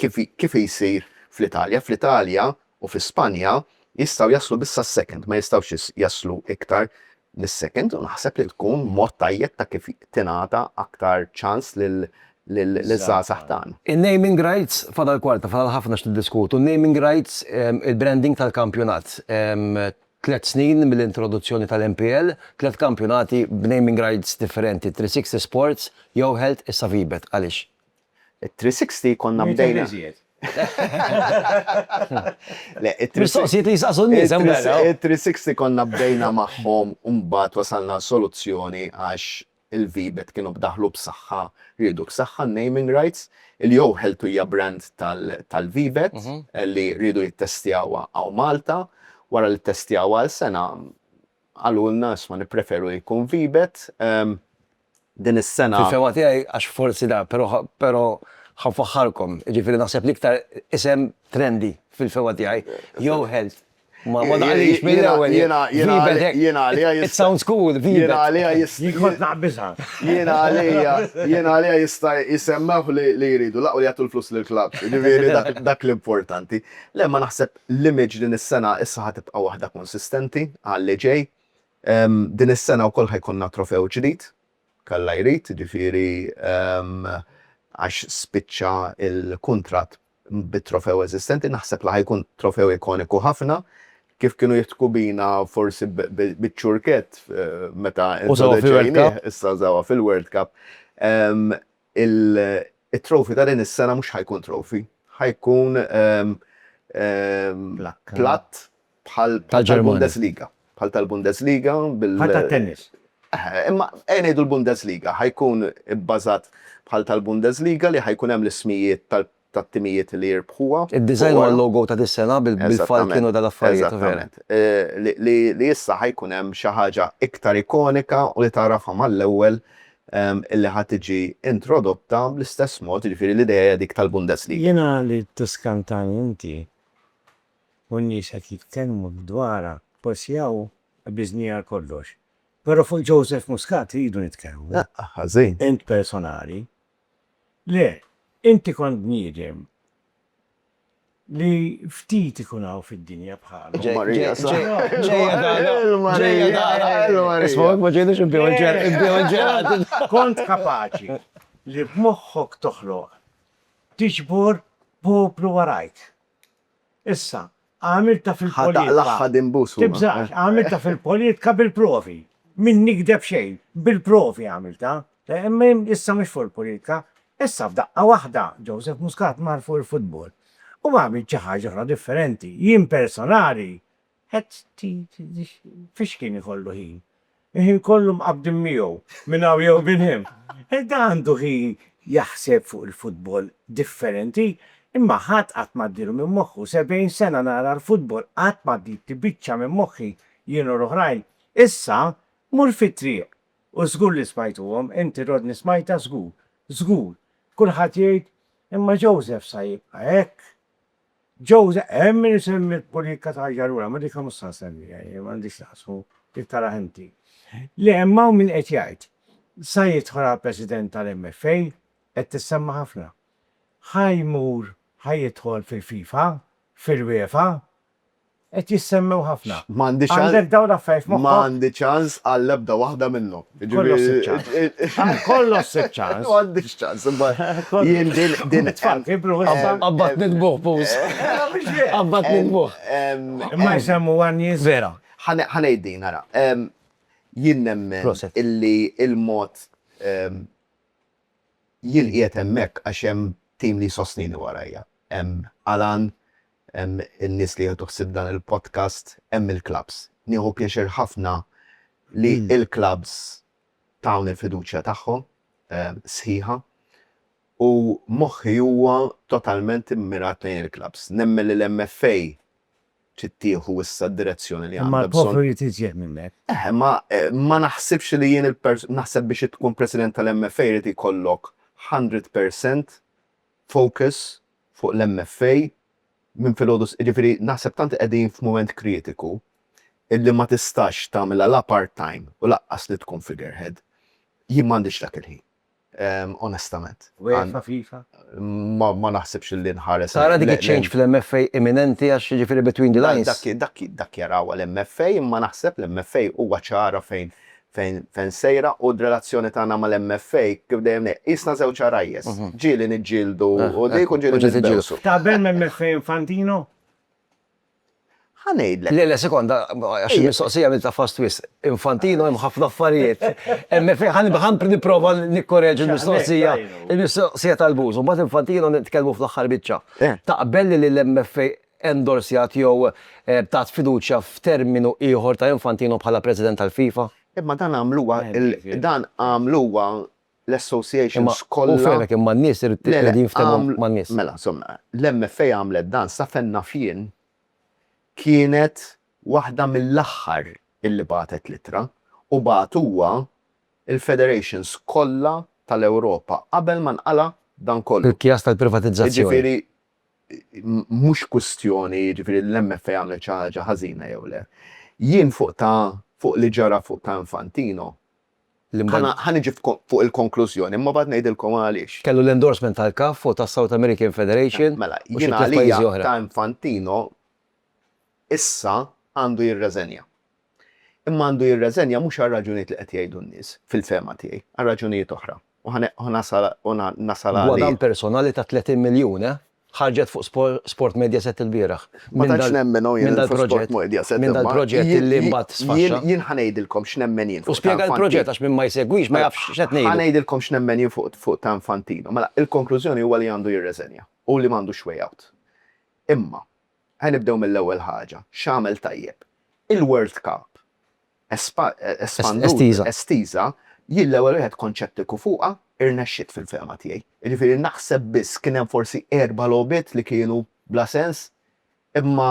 S1: Kif kif jsir fl-Italja? Fl-Italja u fi Spanja jistgħu jaslu biss għas-second, ma jistgħux jaslu iktar mis-second u naħseb li tkun mod tajjeb ta' kif tingħata aktar ċans lil liż-żgħażagħ tagħna. In-naming rights fadal kwarta, fadal ħafna x'niddiskutu. Naming rights, il-branding tal-kampjonat. Tliet snin mill-introduzzjoni tal-MPL, tliet kampjonati b'naming rights differenti, 360 Sports, Yo Health, issa Vibet. Għaliex? It-360 konna bdejna. Mistoqsijiet li jistaqsu n-nies hemm barra. It-360 konna bdejna magħhom u mbagħad wasalna għal soluzzjoni għax il-Vibet kienu b'daħlu b'saħħa, riedu b'saħħa n-naming rights. Il-Jew Ħeltu hija brand tal-Vibet li riedu jittestjawha hawn Malta. Wara li ttestjawha għal sena qalulna isma' nippreferu li jkun Vibet. din is-sena. Fil-fehma tiegħi, għax forsi da, però però ħa nfaħħarkom, jiġifieri naħseb l-iktar isem trendy fil-fehma tiegħi, Yo-Health. Ma ma daħqlix mill-ewwel. Jiena jiena għalija jiena għalija jista'. It sounds cool, Vibet. Jiena għalija jista'. Jien kont naqbiżha. Jiena għalija jiena għalija jista' jsemmew li li jridu laqgħu li jagħtu l-flus lill-klabbs, jiġifieri dak dak l-importanti. Le ma naħseb l-image din is-sena issa ħa tibqa' waħda konsistenti għal li ġej, Din is-sena wkoll ħa jkollna trofew ġdid, kalla jrid, jiġifieri għax spiċċa l-kuntratt bit-trofew eżistenti, naħseb li ħa jkun trofew ikoniku ħafna, kif kienu jiftku bina forsi biċ-ċurkett meta introduċejnieh, issa żawha fil-World Cup. it-trophy ta' din is-sena mhux ħa jkun trophy, ħa jkun platt bħal tal-Bundesliga. Bħal tal-Bundesliga bil-. Bħal tat-tennis. Imma ejja ngħidu l-Bundesliga ħa jkun ibbażat bħal tal-Bundesliga li ħa jkun hemm l-ismijiet tal-players tat-timijiet li jirbħuha. Id-design u l-logo ta' dis-sena bil-falkien u dal-affarijiet. Eżattament. Li issa ħa jkun hemm xi ħaġa iktar ikonika u li tagħrafha mal-ewwel illi ħa tiġi introdotta bl-istess mod, jiġifieri l-idea hija dik tal-Bundesliga. Jiena li tiskantani inti u n-nies qed jitkellmu dwarha, forsi hawn qbiżni għal kollox. Però fuq Joseph Muscat rridu nitkellmu. Ħażin. Int personali, Le, inti kont bniedem li ftit ikun hawn fid-dinja bħalu. Ġejja Dara, ġejja Dara, ġejja Dara, isma' hekk ma ġejniex inbiegħu l-ġelat. Kont kapaċi li b'moħħok toħloq, tiġbor poplu warajk. Issa, għamiltha fil-poliedka. Tibżax, għamiltha fil-poliedka bil-provi. Min nikdeb xejn, bil-provi għamiltha. Issa mhux fuq il-poliedka. Issa f'daqqa waħda, Joseph Muscat mar fuq il-futbol. U għamilt xi ħaġa oħra differenti. Jien personali, Qed tgħid fiex kien ikollu ħin? Il-ħin kollu mqabbdin miegħu minn hawn jew minn hemm. Ed għandu ħin jaħseb fuq il-futbol differenti, imma ħadd qatt ma għaddielu minn moħħu. Sebgħin sena nara l-futbol, qatt ma għaddietli biċċa minn moħħi, jien u l-oħrajn. Issa, mur fit-triq, u żgur li smajtuhom, inti Rodney smajtha żgur, żgur, kulħadd jgħid, imma Joseph sa jibqa' hekk? Jose, Hemm min isemmi l-pulika ta' Ajarura, ma dikha mhux se nsemmiha jien, m'għandix x'taqsmu, trid taraha inti. Le, imma hawn min qed jgħid, sa jidħol għall-President tal-MFA, qed tissemma' ħafna. Ħa jmur, ħa jidħol fil-FIFA, fil-UEFA. Qed jissemmew ħafna. M'għandi ċans. Għandek dawn l-affarijiet f'moħħok? M'għandi ċans għall-ebda waħda minnhom. Kollu ssib ċans. Kollu ssib ċans. M'għandix ċans, imma jien din din. It-tfal kibru issa. Qabad nitbuh pus. Qabad nitbuh. Imma jsemmu għanjiż. Vera. Ħa ngħid din, ara. Jien nemmen illi l-mod jien qiegħed hemmhekk għax hemm tim li jsostnini warajja. Hemm Alan, Hemm in-nies li jieħdu ħsieb dan il-podcast, hemm il-klabbs. Nieħu pjaċir ħafna li l-klabbs tawni l-fiduċja tagħhom sħiħa u moħħi huwa totalment immirat lejn il-klabbs. Nemmen li l-MFA trid tieħu issa d-direzzjoni li għandha bżonn. Imma l-poplu jrid iżjed minn hekk. Eħe, ma ma naħsibx li jien naħseb biex tkun President tal-MFA jrid ikollok 100% focus fuq l-MFA minn filgħodu s-, jiġifieri naħseb tant qegħdin f'mument kritiku illi ma tistax tagħmilha la part time u laqqas li tkun figurehead. Jien m'għandix dak il-ħin onestament. UEFA, FIFA? Ma naħsibx illi nħares. Tara dik iċ-change fl-MFA imminenti għax jiġifieri between the lines? Dak jarawha l-MFA imma naħseb l-MFA huwa ċara fejn fejn fejn sejra u d-relazzjoni tagħna mal-MFA kif dejjem ngħid, qisna żewġ għarajjes. Ġieli niġġieldu u dik u ġieli nitbewsu. Taqbel ma' MFA Infantino? Ħa ngħidlek. Le, le, sekonda, għax il-mistoqsija għamiltha fast wisq. Infantino hemm ħafna affarijiet. MFA ħa nib- ħa nipprova nikkoreġi l-mistoqsija. Il-mistoqsija tal-Buz, u mbagħad Infantino nitkellmu fl-aħħar biċċa. Eh. Taqbel li l-MFA endorsjat jew tat fiduċja f'terminu ieħor ta' Infantino bħala President tal-FIFA. Imma dan għamluha l dan għamluha l-associations kollha. Imma hu fehmek imma n-nies irid irid jinftehmu man-nies. Mela, insomma, l-MFA għamlet dan sa fejn naf jien kienet waħda mill-aħħar illi bagħtet l-ittra u bagħtuha l-federations kollha tal-Ewropa qabel ma nqala' dan kollu. Il-kjas tal-privatizzazzjoni. Jiġifieri mhux kwistjoni jiġifieri li l-MFA għamlet xi ħaġa ħażina jew le. Jien fuq ta' fuq li ġara fuq ta' Infantino ħa niġi fuq il-konklużjoni imma mbagħad ngħidilkom għaliex. Kellu l-endorsement tal-CAF u tas-South American Federation u xi tliet pajjiżi oħra. Mela, jien għalija ta' Infantino issa għandu jirreżenja. Imma għandu jirreżenja mhux għar-raġunijiet li qed jgħidu n-nies, fil-fehma tiegħi, għal raġunijiet oħra. U ħa nasal u nasal għal. Gwadann personali ta' 30 miljun, eh? Ħarġet fuq Sport Mediaset il-bieraħ. Ma tantx nemmen hawn jien fuq Sport Mediaset. Minn dal-proġett li mbagħad sfaxxa. Jien ħa ngħidilkom x'nemmen jien fuq. U spjega l-proġett għax min ma jsegwix ma jafx x'qed ngħidu. Ħa ngħidilkom x'nemmen jien fuq ta' Infantino. Mela, il-konklużjoni huwa li għandu jirreżenja u li m'għandux way out. Imma, Ħa nibdew mill-ewwel ħaġa, x'għamel tajjeb? Il-World Cup espanduta, estiża, jien l-ewwel wieħed kont xettiku fuqha, irnexxiet fil-fehma tiegħi. Jiġifieri naħseb biss kien hemm forsi erba' logħbiet li kienu bla sens, imma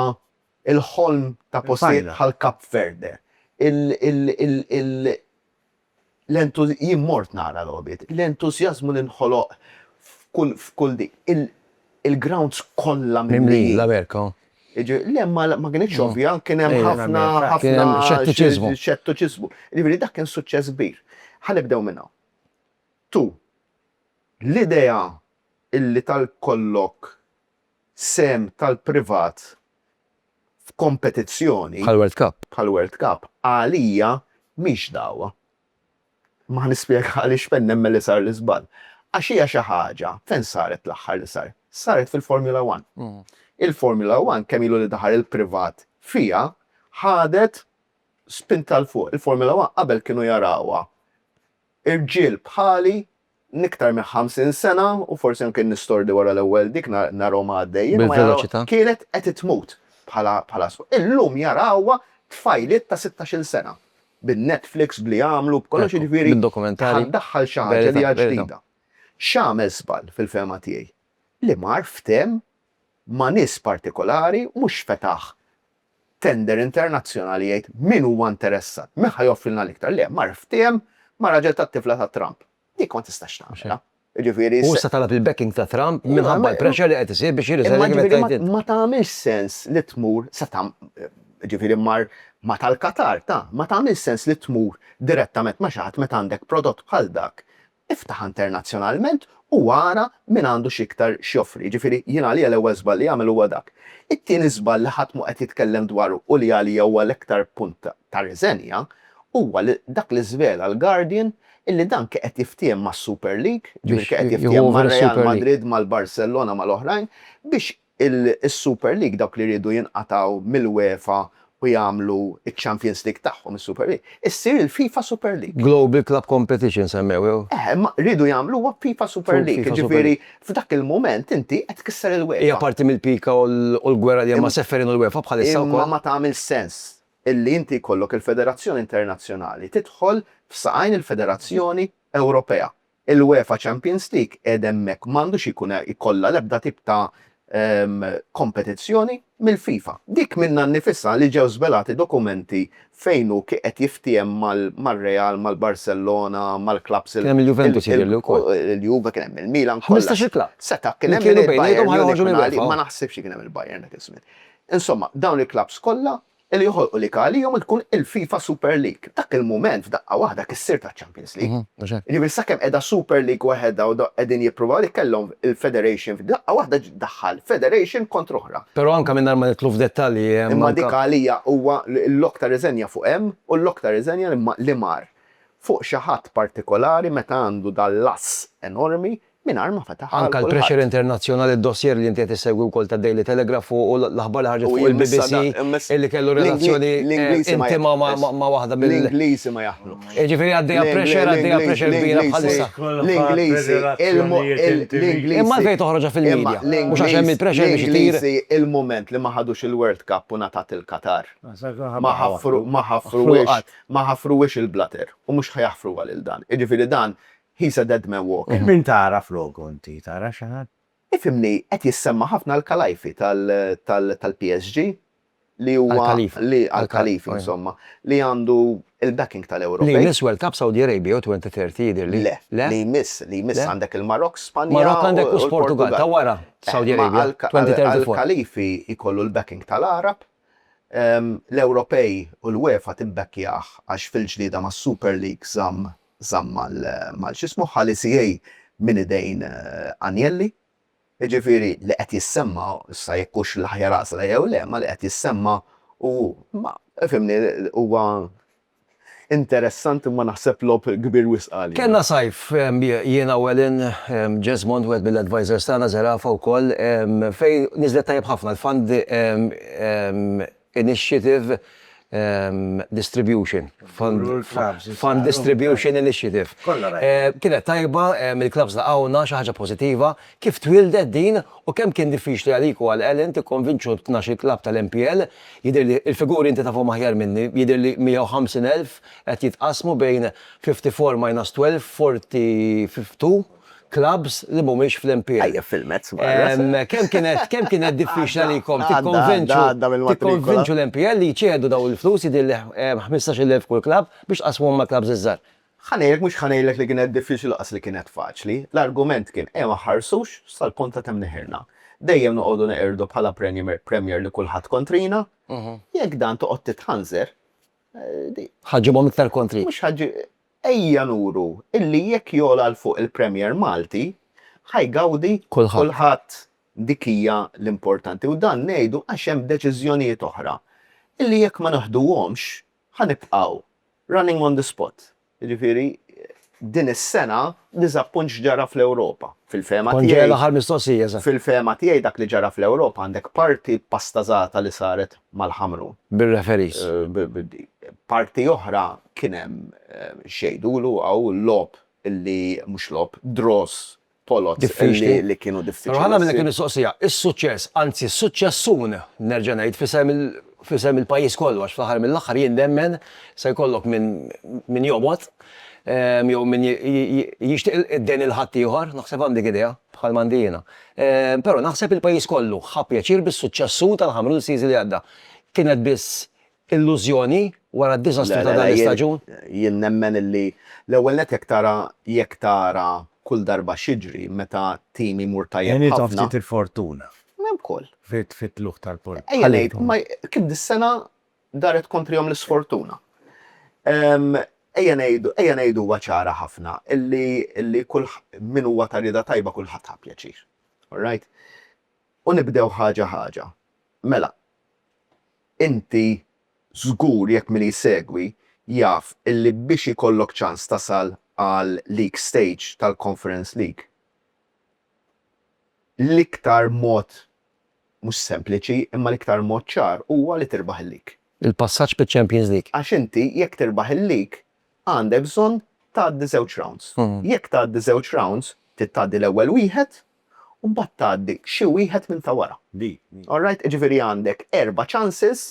S1: l-ħolm ta' postijiet bħal Cape Verde, L-entużjażmu, jien mort nara logħbiet, l-entużjażmu li nħoloq f'kull, f'kull di, il, il-grounds kollha mimlijin. Mimlijin, l-Amerika, oh. Jiġi, le, ma, ma kinitx ovvja, kien hemm ħafna, ħafna. Kien hemm xettiċiżmu. Xettiċiżmu. Jiġifieri dak kien suċċess kbir. Ħa nibdew minn hawn. Tu, l-idea illi tal-kollok sehem tal-privat f'kompetizzjoni bħall-World Cup bħall-World Cup għalija mhix dagħwa. Imma ħa nispjega għaliex fejn nemmen li sar l-iżball. Għax hija xi ħaġa, fejn saret l-aħħar li sar? Saret fil-Formula One. Il-Formula One kemm ilu li daħal il-privat fiha ħadet spinta 'l fuq. Il-Formula One qabel kienu jarawha rġiel bħali l-iktar minn 50 sena u forsi anke nistordi wara l-ewwel dik narhom għaddejjin. Bil-veloċità. Kienet qed tmut bħala sfond. Illum jarawha tfajliet ta' sittax-il sena. Bin-Netflix, b'li jagħmlu, b'kollox jiġifieri. Bid-dokumentarji. Ħa ddaħħal xi ħaġa li hija ġdida. X'għamel żball fil-fehma tiegħi? Li mar ftehem ma' nies partikolari mhux fetaħ tender internazzjonali jgħid min huwa interessat, min ħa joffrilna l-iktar. Le, mar ftiehem ma' raġel tat-tifla ta' Trump. Dik ma tistax tagħmilha. Jiġifieri. Hu issa talab il-backing ta' Trump minħabba l-pressure li qed isir biex jirriżenja kif qed tgħid int. Ma tagħmilx sens li tmur sa ta' jiġifieri mar ma' tal-Qatar ta'. Ma tagħmilx sens li tmur direttament ma' xi ħadd meta għandek prodott bħal dak Iftaħha internazzjonalment u ara min għandu x'iktar x'joffri. Jiġifieri, jien għalija l-ewwel żball li jagħmel huwa dak. It-tieni żball li ħadd mhu qed jitkellem dwaru u li għalija huwa l-iktar punt ta' riżenja huwa li dak li żvela l-Guardian illi dan ke qed jiftiehem mas-Super League, jiġifieri ke qed jiftiehem mar-Real Madrid, mal-Barcellona, mal-oħrajn, biex Is-Super League, dawk li riedu jinqatgħu mill-UEFA u jagħmlu ċ-Champions League tagħhom, is-Super League, issir il-FIFA Super League. Global Club Competition semmew. Eħe, imma riedu jagħmluha FIFA Super League, jiġifieri f'dak il-mument inti qed tkisser il-UEFA. Hija parti mill-pika u l-gwerra li hemm ma' Ceferin u l-UEFA bħalissa wkoll. Imma ma tagħmilx sens illi inti jkollok il-federazzjoni internazzjonali tidħol f'saqajn il-federazzjoni Ewropea. Il-UEFA Champions League qiegħed hemmhekk m'għandux ikun ikollha l-ebda tip ta' kompetizzjoni mill-FIFA. Dik minnha nnifisha li ġew żvelati dokumenti fejn hu kien qed jiftiehem mar-Real, mal-Barcellona, mal-clubs il-, Kien hemm il-Juventus jidhirli wkoll. il-Juve, kien hemm il-Milan, kollha. Ħmistax il-club. Seta' kien hemm il-Bayern, ma naħsibx li kien hemm il-Bayern dak iż-żmien. Insomma, dawn il-clubs kollha li joħolqu lig għalihom li tkun il-FIFA Super League. F'dak il-mument, f'daqqa waħda, kissirt għaċ-Champions League. Jiġifieri sakemm qiegħda Super League waħedha u qegħdin jippruvaw li kellhom il-Federation, f'daqqa waħda ġiet ddaħħal Federation kontra oħra. Però anke mingħajr ma nidħlu f'dettalji hemm anke. Imma dik għalija huwa l-lok ta' riżenja fuq hemm u l-lok ta' riżenja li mar fuq xi ħadd partikolari meta għandu dan l-ass enormi mingħajr ma fetaħ għal kulħadd. Anke l-pressure internazzjonali, d-dossier li inti qed issegwi wkoll tad-Daily Telegraph u l-aħbar li ħarġet fuq il-BBC li kellu relazzjoni intima ma' waħda mill-. L-Ingliżi ma jaħlu. Jiġifieri għaddejja pressure, għaddejja pressure kbira bħalissa. L-Ingliżi, l-Ingliżi. Imma għalfejn toħroġha fil-media? Mhux għax hemm il-pressure biex itir. L-Ingliżi il-mument li ma ħadux il-World Cup u ngħatat il-Qatar. Ma ħaffru, ma ħaffruhiex, ma ħaffruhiex il-blater u mhux ħa jaħfruha lil dan. Jiġifieri dan He's a dead man walking. Min tara floku inti, tara xi ħadd? Ifhimni, qed jissemma' ħafna Al-Khalaifi tal-PSG li huwa. Al-Khalifi. Li, Al-Khalifi insomma, li għandu l-backing tal-Ewropej. Li jmiss World Cup Saudi Arabia jew 2030 jidhirli. Le, le? Li jmiss, li jmiss għandek il-Marokk, Spanja. Marokk għandek u l-Portugall ta' wara Saudi Arabia 2034. Al-Khalifi jkollu l-backing tal-Għarab, l-Ewropej u l-UEFA tibbackyah għax fil-ġlieda mas-Super League żamm żamm mal x'ismu ħa l-ECA minn idejn Agnelli. Jiġifieri li qed jissemma, issa jekk hux l-aħjar għażla jew le, ma li qed jissemma hu ma fhimni huwa interessanti imma naħseb logħob kbir wisq għalina. Kellna sajf jiena u Alan Jesmond wieħed mill-advisors tagħna, Zerafa wkoll, fejn niżlet tajjeb ħafna l-fund Initiative Distribution, Fund Distribution Initiative. Kienet tajba, il-klabbs laqgħuna, xi ħaġa pożittiva. Kif twieldet din u kemm kien diffiċli għalik u għal Ellen tikkonvinċu tnax-il klabb tal-MPL? Jidhirli l-figuri inti tafhom aħjar minni, jidhirli 150,000 qed jitqassmu bejn 54 minus 12, 42. clubs li mhumiex fl-MPL. Tajjeb fil-mezz marra. Kemm kienet kemm kienet diffiċli għalikom tikkonvinċu tikkonvinċu l-MPL li jċedu dawn il-flus jidhirli 15,000 kull club biex tqassmuhom mal-clubs iż-żgħar? Ħa ngħidlek mhux ħa ngħidlek li kienet diffiċli lanqas li kienet faċli. L-argument kien ejja ma nħarsux sal-punt ta' kemm neħirna. Dejjem noqogħdu neqirdu bħala Premier li kulħadd kontrina. Jekk dan toqgħod titħanżer. Ħa ġġibhom iktar kontri. Mhux ħa Ejja nuru illi jekk jogħla 'l fuq il-Premier Malti, ħa jgawdi kulħadd. Dik hija l-importanti u dan ngħidu għax hemm deċiżjonijiet oħra illi jekk ma neħduhomx ħa nibqgħu running on the spot. Jiġifieri din is-sena diżappunt x'ġara fl-Ewropa. Fil-fehma tiegħi. Kont ġej għall-aħħar mistoqsija, eżatt. Fil-fehma tiegħi dak li ġara fl-Ewropa għandek parti pastażata li saret mal-Ħamrun. Bir-referees. Parti oħra Kien hemm x'jgħidulu hawn logħob li, mhux logħob, draws, poloz, diffiċli li kienu diffiċli. Però ħanagħmel hekk il-mistoqsija, is-suċċess, anzi s-suċċessuni, nerġa' ngħid, f'isem il, f'isem il-pajjiż kollu għax fl-aħħar mill-aħħar jien nemmen se jkollok min, min jobgħod jew min jixtieq id-dejn lil ħaddieħor, naħseb hawn dik idea, bħal m'għandi jiena. Però naħseb il-pajjiż kollu ħa pjaċir bis-suċċessu tal-Ħamrun is-season li għadda. Kienet biss Illużjoni wara d-diżastru ta' dan l-istaġun? Le, le, le, jien nemmen illi l-ewwel nett jekk tara jekk tara kull darba x'jiġri meta tim imur tajjeb ħafna. Għenithom ftit il-fortuna. Hemm ukoll. Fit-tlugħ tal-Porto. Ejja ngħid, ma kif dis-sena daret kontrihom l-isfortuna. Ejja ngħidu, ejja ngħiduha ċara ħafna illi illi kull min huwa ta' rieda tajba kulħadd ħa pjaċir. All right? U nibdew ħaġa ħaġa. Mela, Inti żgur jekk min jsegwi jaf illi biex ikollok ċans tasal għal league stage tal-Conference League l-iktar mod mhux sempliċi imma l-iktar mod ċar huwa li tirbaħ il-league. Il-passaġġ fiċ-Champions League. Għax inti jekk tirbaħ il-league għandek bżonn tgħaddi żewġ rounds. Jekk tgħaddi żewġ rounds trid tgħaddi l-ewwel wieħed u mbagħad tgħaddi xi wieħed minn ta' wara. All right? Jiġifieri għandek erba' chances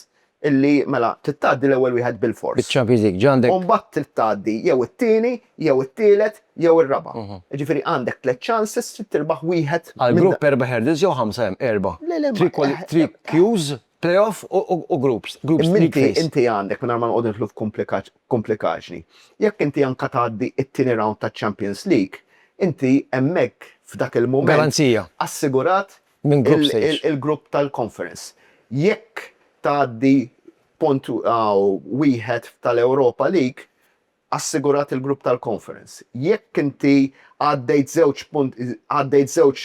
S1: illi mela trid tgħaddi l-ewwel wieħed bil-fors. Biċ-Champions League ġa għandek. U mbagħad trid tgħaddi jew it-tieni, jew it-tielet, jew ir-raba'. Jiġifieri għandek tliet chances trid tirbaħ wieħed minn. Għall-grupp erba' hurdles jew ħamsa hemm erba'. Le, le, ma. Three queues Playoff u groups. Minti inti għandek mingħajr ma noqgħod nidħlu f'kumplikaġni. Jekk inti anke tgħaddi t-tieni round taċ-Champions League, inti hemmhekk f'dak il-mument. Garanzija. Assigurat il-grupp tal-Conference. Jekk tgħaddi punt wieħed tal-Europa League, assigurat il-grupp tal-conference. Jekk inti għaddejt żewġ punt, għaddejt żewġ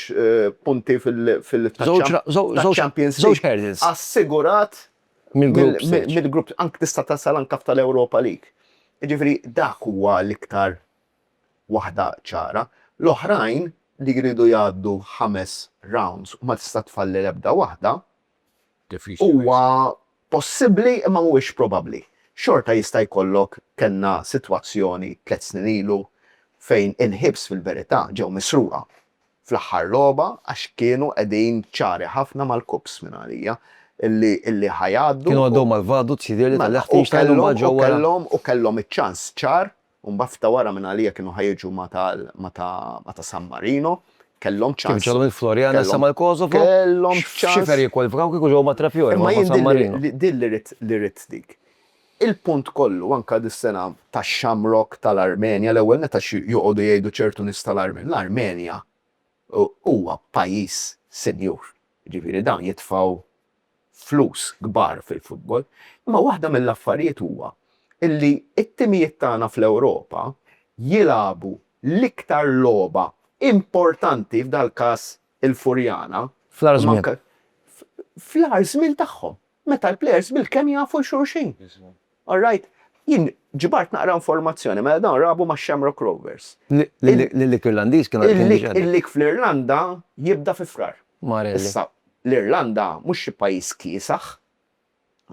S1: punti fil, fil, taċ-Champions League, assigurat mill-grupp, anke tista' tasal anke f'tal-Europa League. Jiġifieri dak huwa l-iktar waħda ċara. L-oħrajn li jridu jgħaddu ħames rounds u ma tista' tfalli l-ebda waħda, Huwa possibbli imma mhuwiex probabbli. Xorta jista' jkollok, kellna sitwazzjoni tliet snin ilu fejn il-Hibs fil-verità ġew misruqa fl-aħħar logħba għax kienu qegħdin ċari ħafna mal-Cups minn għalija illi ħa jgħaddu u. Kienu għaddew mal-Vaduz jidhirli tal-Liechtenstein u mbagħad ġew wara. U kellhom iċ-ċans ċar u mbagħad f'ta' wara minn għalija kienu ħa jiġu ma' ta' ma' ta' ma' ta' San Marino, kellhom ċans. Kif ġew minn Floriana issa mal-Kosovo? Kellhom ċans. X'xifer jikkwalifikaw kieku ġew ma' Trapiola, ma' ma' San Marino? Imma jien din li rrid li rrid dik. Il-punt kollu anke dis-sena tax-Shamrock tal-Armenja, l-ewwel nett għax joqogħdu jgħidu ċertu nies tal-Armenja, l-Armenja huwa pajjiż sinjur, jiġifieri dawn jitfgħu flus kbar fil-futbol, imma waħda mill-affarijiet huwa li t-timijiet tagħna fl-Ewropa jilagħbu l-iktar logħba importanti, f'dal-każ il-Furjana, fl-agħar żmien tagħhom, meta l-plejers bilkemm jafu 'l xulxin. All right, jien ġbart naqra informazzjoni, mela dawn rabu max-Shamrock Rovers. L-League Irlandiż kien għaddej diġà. Il-League fl-Irlanda jibda fi Frar. Issa, l-Irlanda mhux xi pajjiż kiesaħ,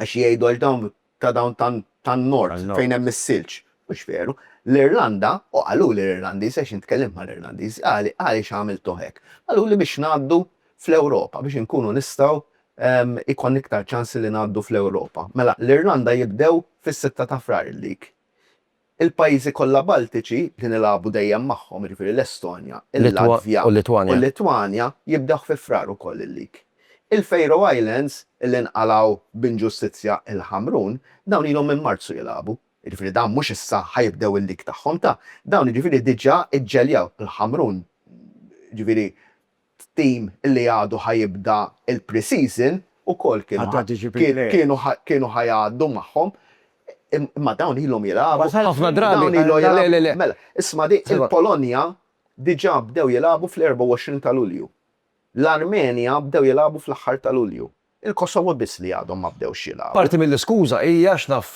S1: għax jgħidu għax dawn ta' dawn tan-Nord fejn hemm is-silġ. Mhux veru. L-Irlanda, u qaluli l-Irlandiżi għax jien tkellimt mal-Irlandiżi, qalli għaliex għamiltuh hekk. Qaluli biex ngħaddu fl-Ewropa, biex inkunu nistgħu Ikollna iktar ċans li ngħaddu fl-Ewropa. Mela, l-Irlanda jibdew fis-sitta ta' Frar il-League. Il-pajjiżi kollha Baltiċi, li nilagħbu dejjem magħhom, jiġifieri l-Estonja, il-Latvja u l-Litwanja, jibdew fi Frar ukoll il-League. Il-Faroe Islands, li nqalgħu b'inġustizzja il-Ħamrun, dawn ilhom minn Marzu jilagħbu. Jiġifieri dawn mhux issa ħa jibdew il-League tagħhom ta', dawn jiġifieri diġà ġġeljaw. Il-Ħamrun, jiġifieri, t-tim li għadu ħa jibda l-pre-season ukoll kienu ħa jgħaddu magħhom imma dawn ilhom jilagħbu ħafna drabi mela isma' din il-Polonja diġà bdew jilagħbu fl-24 ta' Lulju. L-Armenja bdew jilagħbu fl-aħħar ta' Lulju. Il-Kosovo biss li għadhom ma bdewx jilgħabu. Parti mill-iskuża hi għax naf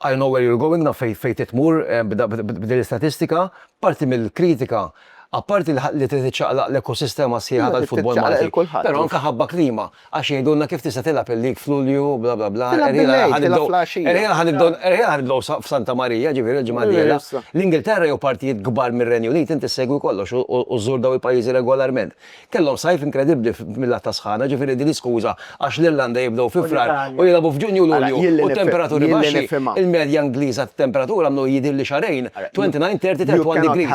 S1: I know where you're going, naf fejn trid tmur b'din l-istatistika, parti mill-kritika apparti li trid iċċaqlaq l-ekosistema sħiħa tal-futbol Malti, però anke ħabba klima, għax jgħidulna kif tista' tilgħab il-league f'Lulju bla bla bla, erħielha ħa nibdew f'Santa Marija, ġifieri l-ġimgħa d-dieħla. L-Ingilterra jew partijiet kbar mir-Renju Unit inti ssegwi kollox u żżur dawn il-pajjiżi regolarment. Kellhom sajf inkredibbli mil-lat ta' sħana, ġifieri din hi skuża għax l-Irlanda jibdew fi Frar u jilagħbu f'Ġunju u Lulju u t-temperaturi baxxi, il-medja Ingliża ta' temperatura mnu jidhirli xahrejn 29, 30, 31 degrees.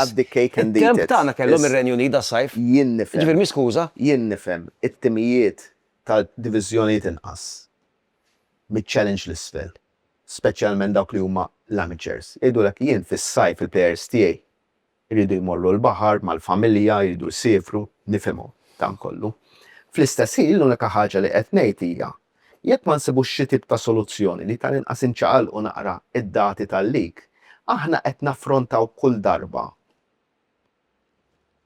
S1: It-temp tagħna kellhom ir-Renju Unit das-sajf. Jiġifieri mhi skuża. Jien nifhem it-timijiet ta' diviżjonijiet inqas miċ-Challenge 'l isfel, speċjalment dawk li huma l-amateurs, jgħidulek jien fis-sajf il-plejers tiegħi Iridu jmorru l-baħar mal-familja, iridu jsiefru, nifhimhom dan kollu. Fl-istess ħin l-unika ħaġa li qed ngħid hija, jekk ma nsibux xi tip ta' soluzzjoni li tal-inqas inċaqalqu naqra d-dati tal-leak, aħna qed naffrontaw kull darba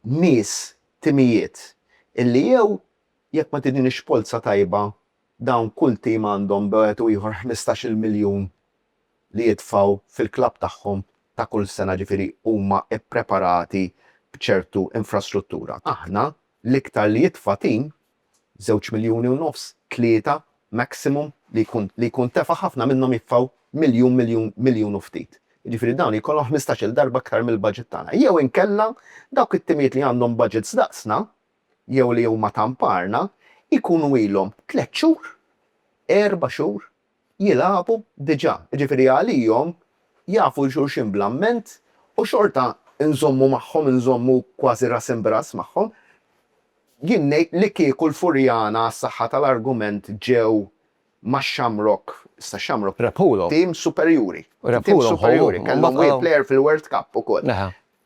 S1: nies, timijiet, illi jew jekk ma tidinix polza tajba dawn kull tim għandhom bejn wieħed u ieħor ħmistax-il miljun li jitfgħu fil-klabb tagħhom ta' kull sena ġifieri huma ppreparati b'ċertu infrastruttura. Aħna l-iktar li jitfa' tim, żewġ miljuni u nofs, tlieta maximum li jkun li jkun tefa' ħafna minnhom jitfgħu miljun miljun miljun u ftit. Jiġifieri dawn jkollhom ħmistax-il darba aktar mill-budget tagħna. Jew inkella dawk it-timijiet li għandhom budgets daqsna jew li huma ta' mparna jkunu ilhom tliet xhur, erba' xhur, jilagħbu diġà, jiġifieri għalihom jafu 'l xulxin bl-amment u xorta nżommu magħhom, inżommu kważi ras imb'ras magħhom. Jien ngħid li kieku l-Furjana għas-saħħa tal-argument ġew ma' Shamrock, issa Shamrock, tim superjuri, tim superjuri, kellhom player fil-World Cup ukoll,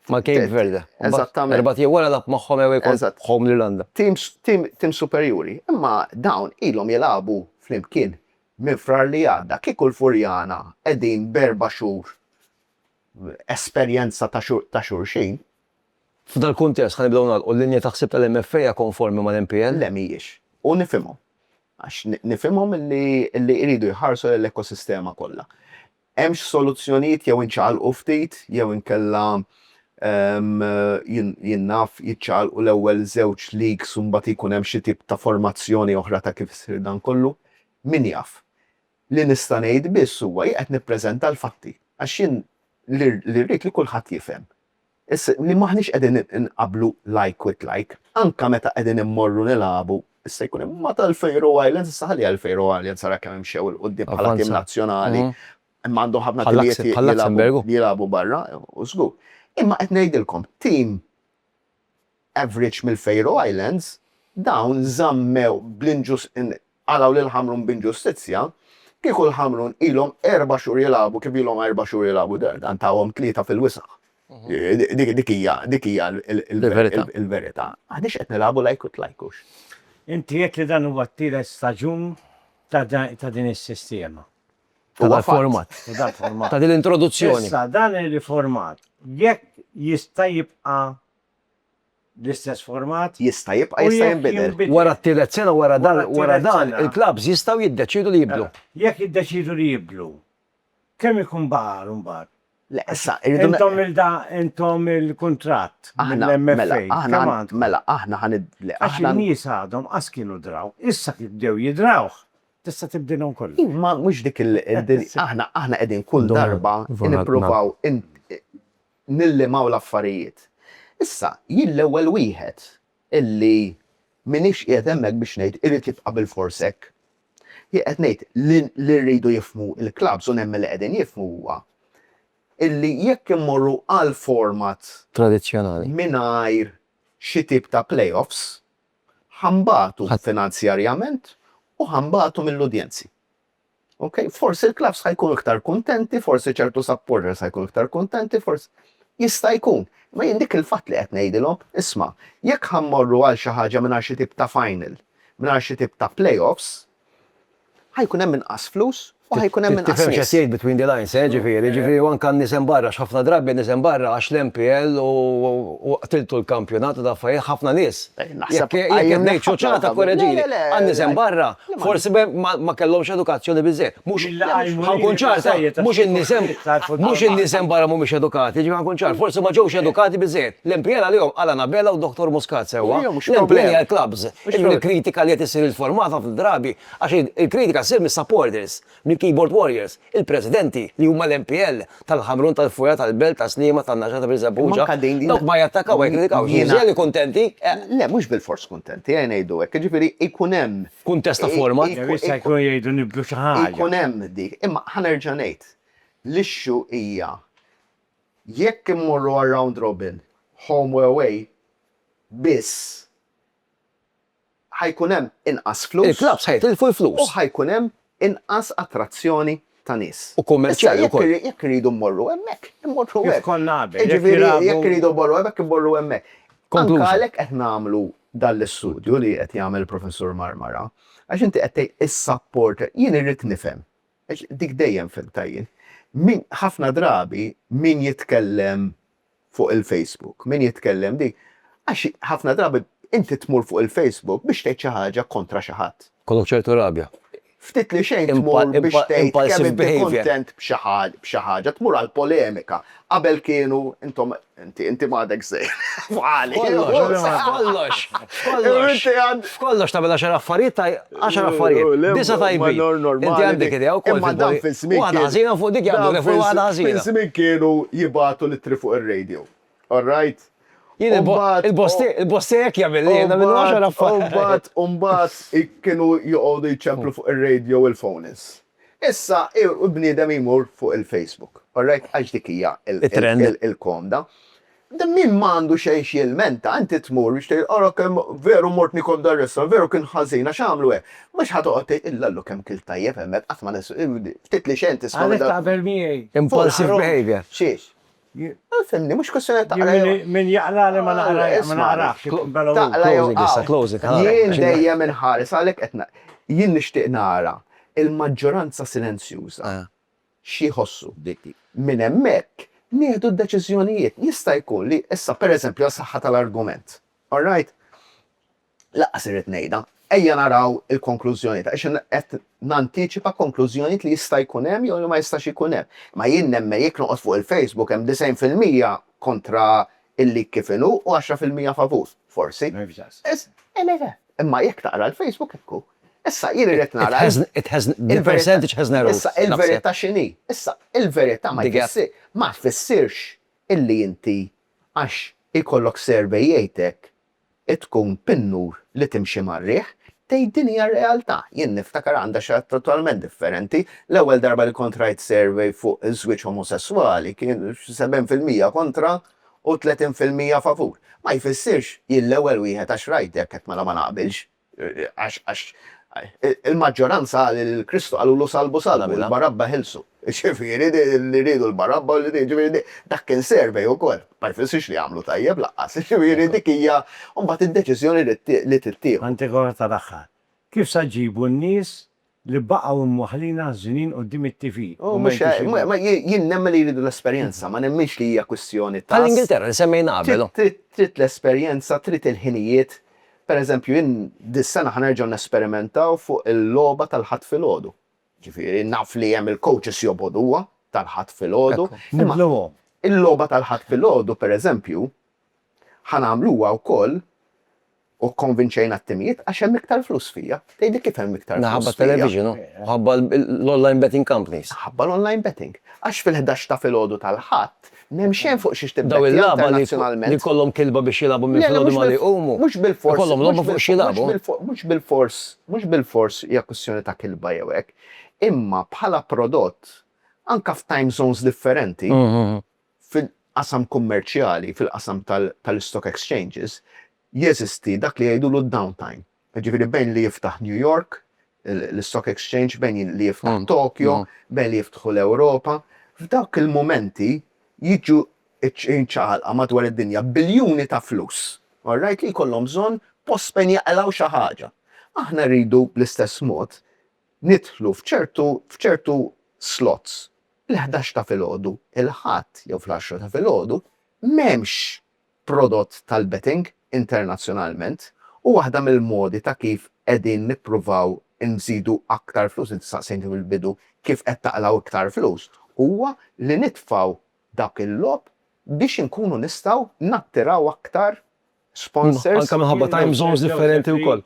S1: Mal-Cape Verde. Eżattament. Erbat jew wara lab magħhom ewwek magħhom l-Irlanda. Tim superjuri, imma dawn ilhom jilagħbu flimkien minn Frar li għadda. Kieku l-Furjana qegħdin b'erba' xhur esperjenza ta' xulxin. F'dal-kuntest, ħa nibdew nagħlqu, l-linja ta' ħsieb tal-MFA hija konformi mal-MPL? Le mhijiex. U nifhimhom. Għax nifhimhom li jridu jħarsu lejn l-ekosistema kollha. Hemmx soluzzjonijiet jew inċaqalqu ftit jew inkella jien naf jiċċaqalqu l-ewwel żewġ leagues u mbagħad jkun hemm xi tip ta' formazzjoni oħra ta' kif isir dan kollu. Min jaf. Li nista' ngħid biss huwa jien qed nippreżenta l-fatti għax jien li rrid li kulħadd jifhem. Issa li m'aħniex qegħdin inqabblu like with like, anke meta qegħdin immorru nilagħbu, issa jkun hemm meta l-Faroe Islands, issa ħalliha l-Faroe Islands ara kemm imxew 'il quddiem bħala tim nazzjonali, imma għandhom ħafna timijiet li jilagħbu barra, żgur. Imma qed ngħidilkom, tim Average mill-Faroe Islands, dawn żammew bl-inġus qalgħu lil Ħamrun b'inġustizzja, kieku l-Ħamrun ilhom erba' xhur jilagħbu kif ilhom erba' xhur jilagħbu d-Derg, dan tahom tlieta fil-wisaħ. Dik hija dik hija l-verità. Aħniex qed nilagħbu like it like hux. Inti għedt li dan huwa t-tielet staġun ta' din is-sistema. Ta' dal-format. Ta' dal-format. Ta' din l-introduzzjoni. Issa dan ir-riformat jekk jista' jibqa' bl-istess format. Jista' jibqa' jista' jinbidel. Wara t-tielet sena wara dan wara dan il-klabbs jistgħu jiddeċiedu li jibdlu. Jekk jiddeċiedu li jibdlu, kemm ikun baqa' għal imbagħad? Le issa irridu. Intom il-da intom il-kuntratt mill-MFA kemm għandkom? Mela aħna ħa nid le aħna. Għax in-nies għadhom qas kienu draw. Issa kif bdew jidrawh tista' tibdilhom kollox. Imma mhux dik il-din aħna aħna qegħdin kull darba nippruvaw nillimaw l-affarijiet. Issa, jien l-ewwel wieħed illi m'iniex qiegħed hemmhekk biex ngħid irid jibqa' bilfors hekk. Jien qed ngħid li li rridu jifhmu l-klabbs u nemmen li qegħdin jifhmu huwa illi jekk immorru għal format Tradizzjonali. mingħajr xi tip ta' play-offs, ħa nbatu Ħadd. finanzjarjament u ħa nbatu mill-udjenzi. Ok, forsi l-klabbs ħa jkunu iktar kuntenti, forsi ċertu supporters ħa jkunu iktar kuntenti, forsi jista' jkun. Ma jien dik il-fatt li qed ngħidilhom, isma', jekk ħa mmorru għal xi ħaġa mingħajr xi tip ta' final, mingħajr xi tip ta' playoffs, ħa jkun hemm inqas flus u ħa jkun hemm inqas. Tifhem x'qed tgħid between the lines, eh, ġifieri, ġifieri u anke n-nies hemm barra, x'ħafna drabi n-nies hemm barra għax l-MPL u qtiltu l-kampjonat u daffarijiet, ħafna nies Naħseb Jekk qed ngħid naħseb ċoċata l-għadha. korreġini, Le, le, le, għan nisem le. barra, Le, ma- forsi be- ma ma kellhomx edukazzjoni biżejjed. Mhux Illa għajmu ħankun lili ċar, ta- biżżejjed, mhux in-nisem għax iktar fuq mhux il-barra. in-nisem barra mhumiex edukati, ġifieri ħankun ċar, forsi ma ġewx edukati biżejjed. L-MPL għalihom għal Anabella u Dr. Muscat sewwa. Ejjew, mhux L-MPL problema. hija l-clubs. Mhux Ġifieri problema. l-kritika li qed issir il-formata fil-drabi għax il- il-kritika ssir mis-supporters. Mill-Keyboard Warriors, il-presidenti, li huma l-MPL, tal-Ħamrun, tal-Fuja, tal-Belt, ta' Sliema, tan-Naxxa, ta' Birżebbuġa, dawk ma jattakaw ma jikkritikawx, jiżjed kuntenti, eħ. Le, mhux bilfors kuntenti, eħ ngħidu hekk, jiġifieri jkun hemm. Kuntest ta' forma. Jew jista' jkun jgħidu nibdlu xi ħaġa. Jkun hemm dik, imma ħa nerġa' ngħid, l-issue hija jekk immorru għar-round robin, home u away, biss, ħa jkun hemm inqas flus. Il-klabbs ħa jitilfu l-flus. U ħa jkun hemm inqas attrazzjoni ta' nies. U kummerċjali wkoll. Issa jekk irridu mmorru hemmhekk, immorru hekk. Kif konna qabel. Jiġifieri jekk irridu mmorru hemmhekk, immorru hemmhekk. Anke għalhekk qed nagħmlu dan l-istudju li qed jagħmel il-Professur Marmara. Għax inti qed tgħid is-sapport, jien irrid nifhem, għax dik dejjem fhimtha jien, min, ħafna drabi min jitkellem fuq il-Facebook, min jitkellem dik, għax ħafna drabi inti tmur fuq il-Facebook biex tgħid xi ħaġa kontra xi ħadd. Jkollok ċertu rabja. Ftit li xejn tmur biex tgħid kemm inti kuntent b'xi ħaġa, tmur għal polemika. Qabel kienu intom, inti, inti m'għadek żgħir. F'għali. F'kollox, f'kollox. F'kollox tagħmel għaxar affarijiet Għaxar affarijiet, disa' tajbin, inti għandek idea wkoll fil-politika. Imma dawn fil-żmien kienu. Waħda ħażina u fuq dik jaqblu li fuq waħda ħażina. Dawn fil-żmien kienu jibgħatu l-ittri fuq ir-radio. All right? Jien il-boss tiegħi, il-boss tiegħi hekk jagħmel li nagħmillu għaxar affarijiet. Imbagħad, imbagħad kienu joqogħdu jċemplu fuq ir-radio u l-phone-ins. Issa l-bniedem jmur fuq il-Facebook. All right? Għax dik hija il-komda. Min ma għandu xejn x'jilmenta, inti tmur biex tgħid, ara kemm veru mort nikol dar-restaurant, veru kien ħażin għax għamlu hekk. Mhux ħa toqgħod tgħid, illallu kemm kilt tajjeb hemmhekk, qatt ma nins, ftit li xejn tisma' minn dawk. Għalhekk taqbel miegħi. Impulsive behaviour. Xiex? Ma fhimni, mhux kwistjoni ta' taqra' jew. Min jaqrali ma naqrajhx, ma naqrahx, jkun bela hu. Closing issa, closing. Jien dejjem inħares, għalhekk qed ngħid. Jien nixtieq nara l-maġġoranza silenzjuża. xi jħossu. Minn hemmhekk nieħdu d-deċiżjonijiet. Jista' jkun li issa, pereżempju, għas-saħħa tal-argument, all right, lanqas irrid ngħidha, ejja naraw il-konklużjonijiet, għax qed nantiċipa konklużjonijiet li jista' jkun hemm jew li ma jistax ikun hemm. Imma jien nemmen jekk noqgħod fuq il-Facebook hemm disgħin fil-mija kontra il-leak kif inhu u għaxra fil-mija favur, forsi. Nervjaz. Imma jekk taqra l-Facebook hekk hu. Issa jien irrid nara l-. It has, the percentage has narrowed. Issa il-verità x'inhi? Issa il-verità ma jfissirx, ma tfissirx illi inti għax ikollok survey jgħidlek tkun pinnur li timxi mar-riħ, tgħid din hija r-realtà. Jien niftakar għandha xi ħaġa totalment differenti. L-ewwel darba li kont rajt survey fuq żwieġ omosesswali kien 70% kontra u tletin fil-mija favur, ma jfissirx jien l-ewwel wieħed għax rajt hekk hekk mela ma naqbilx. Għax għax il-maġġoranza qal li lil Kristu qalulu salbu salbu, lil Barabba ħilsu. Jiġifieri li riedu lil Barabba, jiġifieri dak kien survey ukoll. Ma jfissirx li għamlu tajjeb lanqas. Jiġifieri dik hija mbagħad id-deċiżjoni li tittieħu. Antigone tal-aħħar. Kif se ġġibu n-nies li baqgħu mwaħħlin għaż-żnien quddiem it-TV u ma jgħidux il-verità. Mhux hekk, jien nemmen li jridu l-esperjenza, ma nemminx li hija kwistjoni ta'. Bħall-Ingilterra li semmejna qabel. Trid l-esperjenza, trid il-ħinijiet. Per eżempju, jien dis-sena ħa nerġgħu nesperimentaw fuq il-logħba tal-Ħadd filgħodu. Ġifieri, naf li hemm il-coaches jobgħoduha tal-Ħadd filgħodu. Nibdluhom. Il-logħba tal-Ħadd filgħodu, per eżempju, Ħa nagħmluha wkoll u kkonvinċejna t-timijiet għax hemm iktar flus fija. Tgħidli kif hemm iktar flus fija? Minħabba t-television u minħabba l-online betting companies. Minħabba l-online betting. Għax fil-ħdax ta' filgħodu tal-Ħadd m'hemm xejn fuq xiex tibbettja internazzjonalment. Dawn il-lagħba li jkollhom kilba biex jilagħbu minn filgħodu ma li jqumu. Mhux bilfors. Ikollhom logħba fuq x'jilagħbu. Mhux bilfors, mhux bilfors hija kwistjoni ta' kilba jew hekk. Imma bħala prodott, anke f'time zones differenti, Fil-qasam kummerċjali, fil-qasam tal-istock exchanges, jeżisti dak li jgħidulu d-downtime. Jiġifieri bejn li jiftaħ New York, l-istock exchange, bejn li jiftaħ Tokyo, bejn li jiftħu l-Ewropa, f'dawk il-mumenti jiġu mċaqalqa madwar id-dinja biljuni ta' flus, all right, li jkollhom bżonn post fejn jaqilgħu xi ħaġa. Aħna rridu bl-istess mod nidħlu f'ċertu f'ċertu slots. Il-ħdax ta' filgħodu il-Ħadd jew fl-għaxra ta' filgħodu m'hemmx prodott tal-betting internazzjonalment u waħda mill-modi ta' kif qegħdin nippruvaw inżidu aktar flus, inti staqsejtni fil-bidu kif qed taqlgħu iktar flus, huwa li nitfgħu dak il-logħob biex inkunu nistgħu nattiraw aktar sponsors. Anke minħabba time zones differenti wkoll.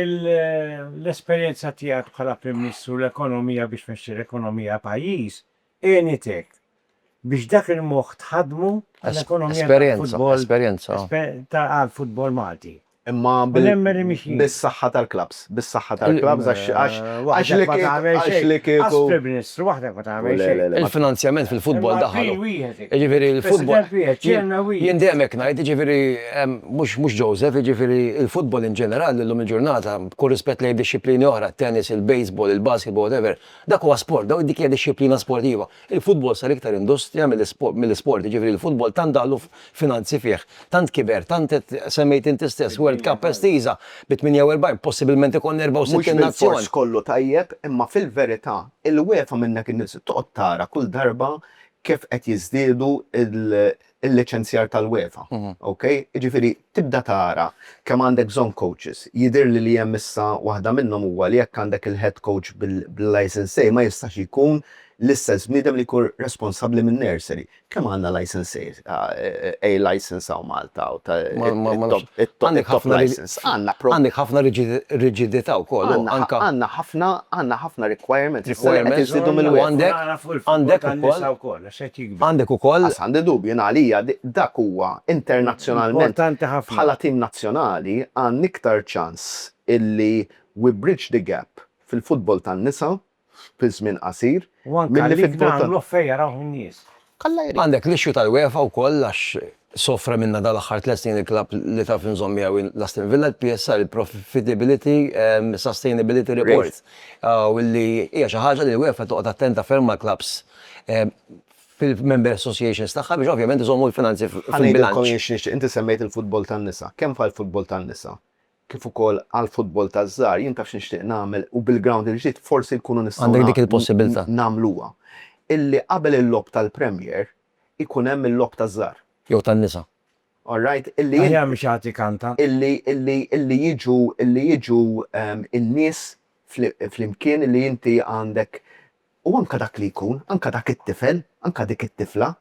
S1: L-esperjenza tiegħek bħala Prim Ministru u l-ekonomija biex tmexxi l-ekonomija ta' pajjiż għenitek biex dak il-moħħ tħaddmu għall-ekonomija tal-futbol għall-futbol Malti. Imma bis-saħħa tal-klabbs. ħadd bis-saħħa tal-klabbs għax għax għax li kieku għax li kieku. As Prim Ministru waħdek ma tagħmel xejn. Il-finanzjament fil-futbol daħal. Jiġifieri l-futbol. Jien dejjem hekk ngħid, jiġifieri mhux mhux Joseph, jiġifieri l-futbol in ġenerali llum il-ġurnata, b'kull rispett lejn dixxiplini oħra, t-tennis, il-baseball, il-basketball, whatever, dak huwa sport, dik hija dixxiplina sportiva. Il-futbol sar iktar industrija mill-isport, jiġifieri l-futbol tant daħlu finanzi fih, tant kiber, tant qed, semmejt inti stess, World Cup estiża bi 48, possibilment ikollna 64 nazzjon. Mhux bilfors kollu tajjeb, imma fil-verità il-UEFA minnhekk in-nies toqgħod tara kull darba kif qed jiżdiedu il-liċenzjar tal-UEFA, ok? Jiġifieri tibda tara kemm għandek bżonn coaches. Jidhirli li hemm issa waħda minnhom huwa li jekk għandek il-head coach bil-licence A ma jistax jkun l-istess bniedem li jkun responsabbli min-nursery. Kemm għandna licence A licence hawn Malta u ta' it-top licence? Għandna problema. Għandek ħafna riġidità wkoll. Għandna ħafna requirements. Requirements. Għandek ukoll. set jikber. Għandek ukoll. Għax għandi dubji, jien għalija dak huwa internazzjonalment. Importanti ħafna. Bħala tim nazzjonali għandna iktar ċans illi we bridge the gap fil-futbol tan-nisa fi żmien qasir milli fil-futbol tal-irġiel. U anke għalik nagħmluh fejn jarawh in-nies. Alla jrid. Għandek l-issue tal-UEFA wkoll għax Sofra minnha dawn l-aħħar tliet snin il-klabb li taf inżomm miegħu hi l-Aston Villa, il-PSR, il-Profitability Sustainability Report, u li hija xi ħaġa li l-UEFA toqgħod attenta ferm mal-klabbs fil-Member Associations tagħha biex ovvjament iżommu l-finanzi fil-bilanċ. Ħa ngħidilkom jien x'nixtieq, inti semmejt il-futbol tan-nisa, kemm fgħall-futbol tan-nisa kif ukoll għall-futbol taż-żgħar, jien taf x'nixtieq nagħmel u bil-ground il-ġdid forsi nkunu nistgħu nagħmluha, illi qabel il-logħob tal-Premier, ikun hemm il-logħob taż-żgħar. Jew tan-nisa. All right? Illi. Aħjar mhux jagħti kanta. Illi, illi, illi jiġu, illi jiġu n-nies flimkien illi inti għandek u anke dak li jkun, anke dak it-tifel, anke dik it-tifla,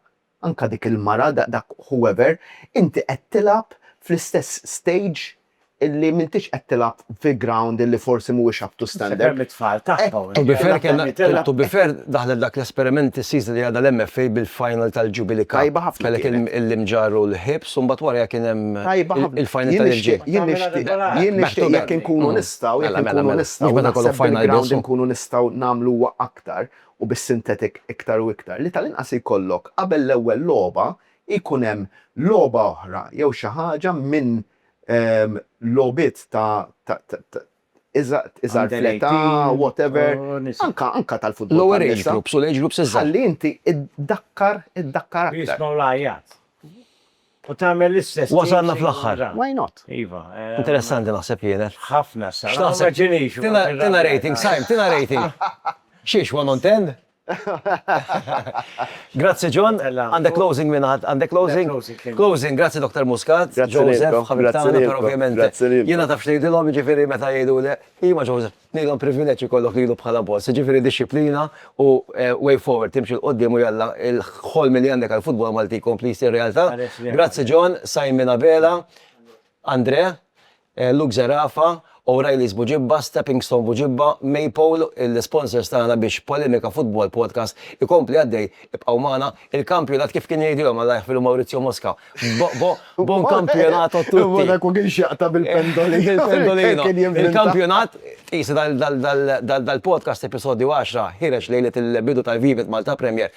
S1: anke dik il-mara, dak whoever, inti qed tilgħab fl-istess stage illi m'intix qed tilgħab fi ground illi forsi mhuwiex up to standard. Se kemm it-tfal tagħhom. To be fair kellna, to be fair daħlet dak l-esperiment is-season li għadha l-MFA bil-final tal-Jubilee Cup. Tajba ħafna. Kellek il-Imġarr u l-Ħiebs u mbagħad warajha kien hemm il-final tal-irġiel. Jien nixtieq, jien nixtieq jekk inkunu nistgħu, jekk inkunu nistgħu, mhux meta jkollok final biss, inkunu nistgħu nagħmluha aktar u bis-sintetik iktar u iktar, li tal-inqas jkollok qabel l-ewwel logħba jkun hemm logħba oħra jew xi ħaġa minn logħbiet ta' iżgħar fl-età, whatever, anke tal-futbol. Lower age groups u l-age groups iżgħar. Ħalli inti ddakkar aktar. Jismgħu l-għajjat. U tagħmel l-istess. Wasalna fl-aħħar. Why not? Iva. Interessanti naħseb kienet. Ħafna sa. X'taħseb? Tina rating, Simon, tina rating. Xiex, one on ten? Grazzi John, għandek closing minn ħadd, għandek closing? Closing, grazzi Doktor Muscat, Joseph, ħabib tagħna, però ovvjament jiena taf x'ngħidilhom, jiġifieri meta jgħiduli, iva Joseph, ngħidilhom privileġġ ikollok lilu bħala boss, jiġifieri dixxiplina u way forward, timxi 'l quddiem u jalla l-ħolm li għandek għall-futbol Malti jkompli jsir realtà. Grazzi John, Simon Abela, Andrea, Luke Zerafa, O'Reilly's Buġibba, Stepping Stone Buġibba, Maypole, l-isponsors tagħna biex Polemika Football Podcast ikompli għaddej, ibqgħu magħna, il-kampjonat kif kien jgħidilhom Alla jaħfirlu Maurizio Mosca, Bo, bo, buon campionato a tutti! Imma dak u kien x'jaqta' bil-pendolino. Bil-pendolino. Il-kampjonat, tqisu dal-podcast episodju għaxra, ħireġ lejlet il-bidu tal-Vivet Malta Premier,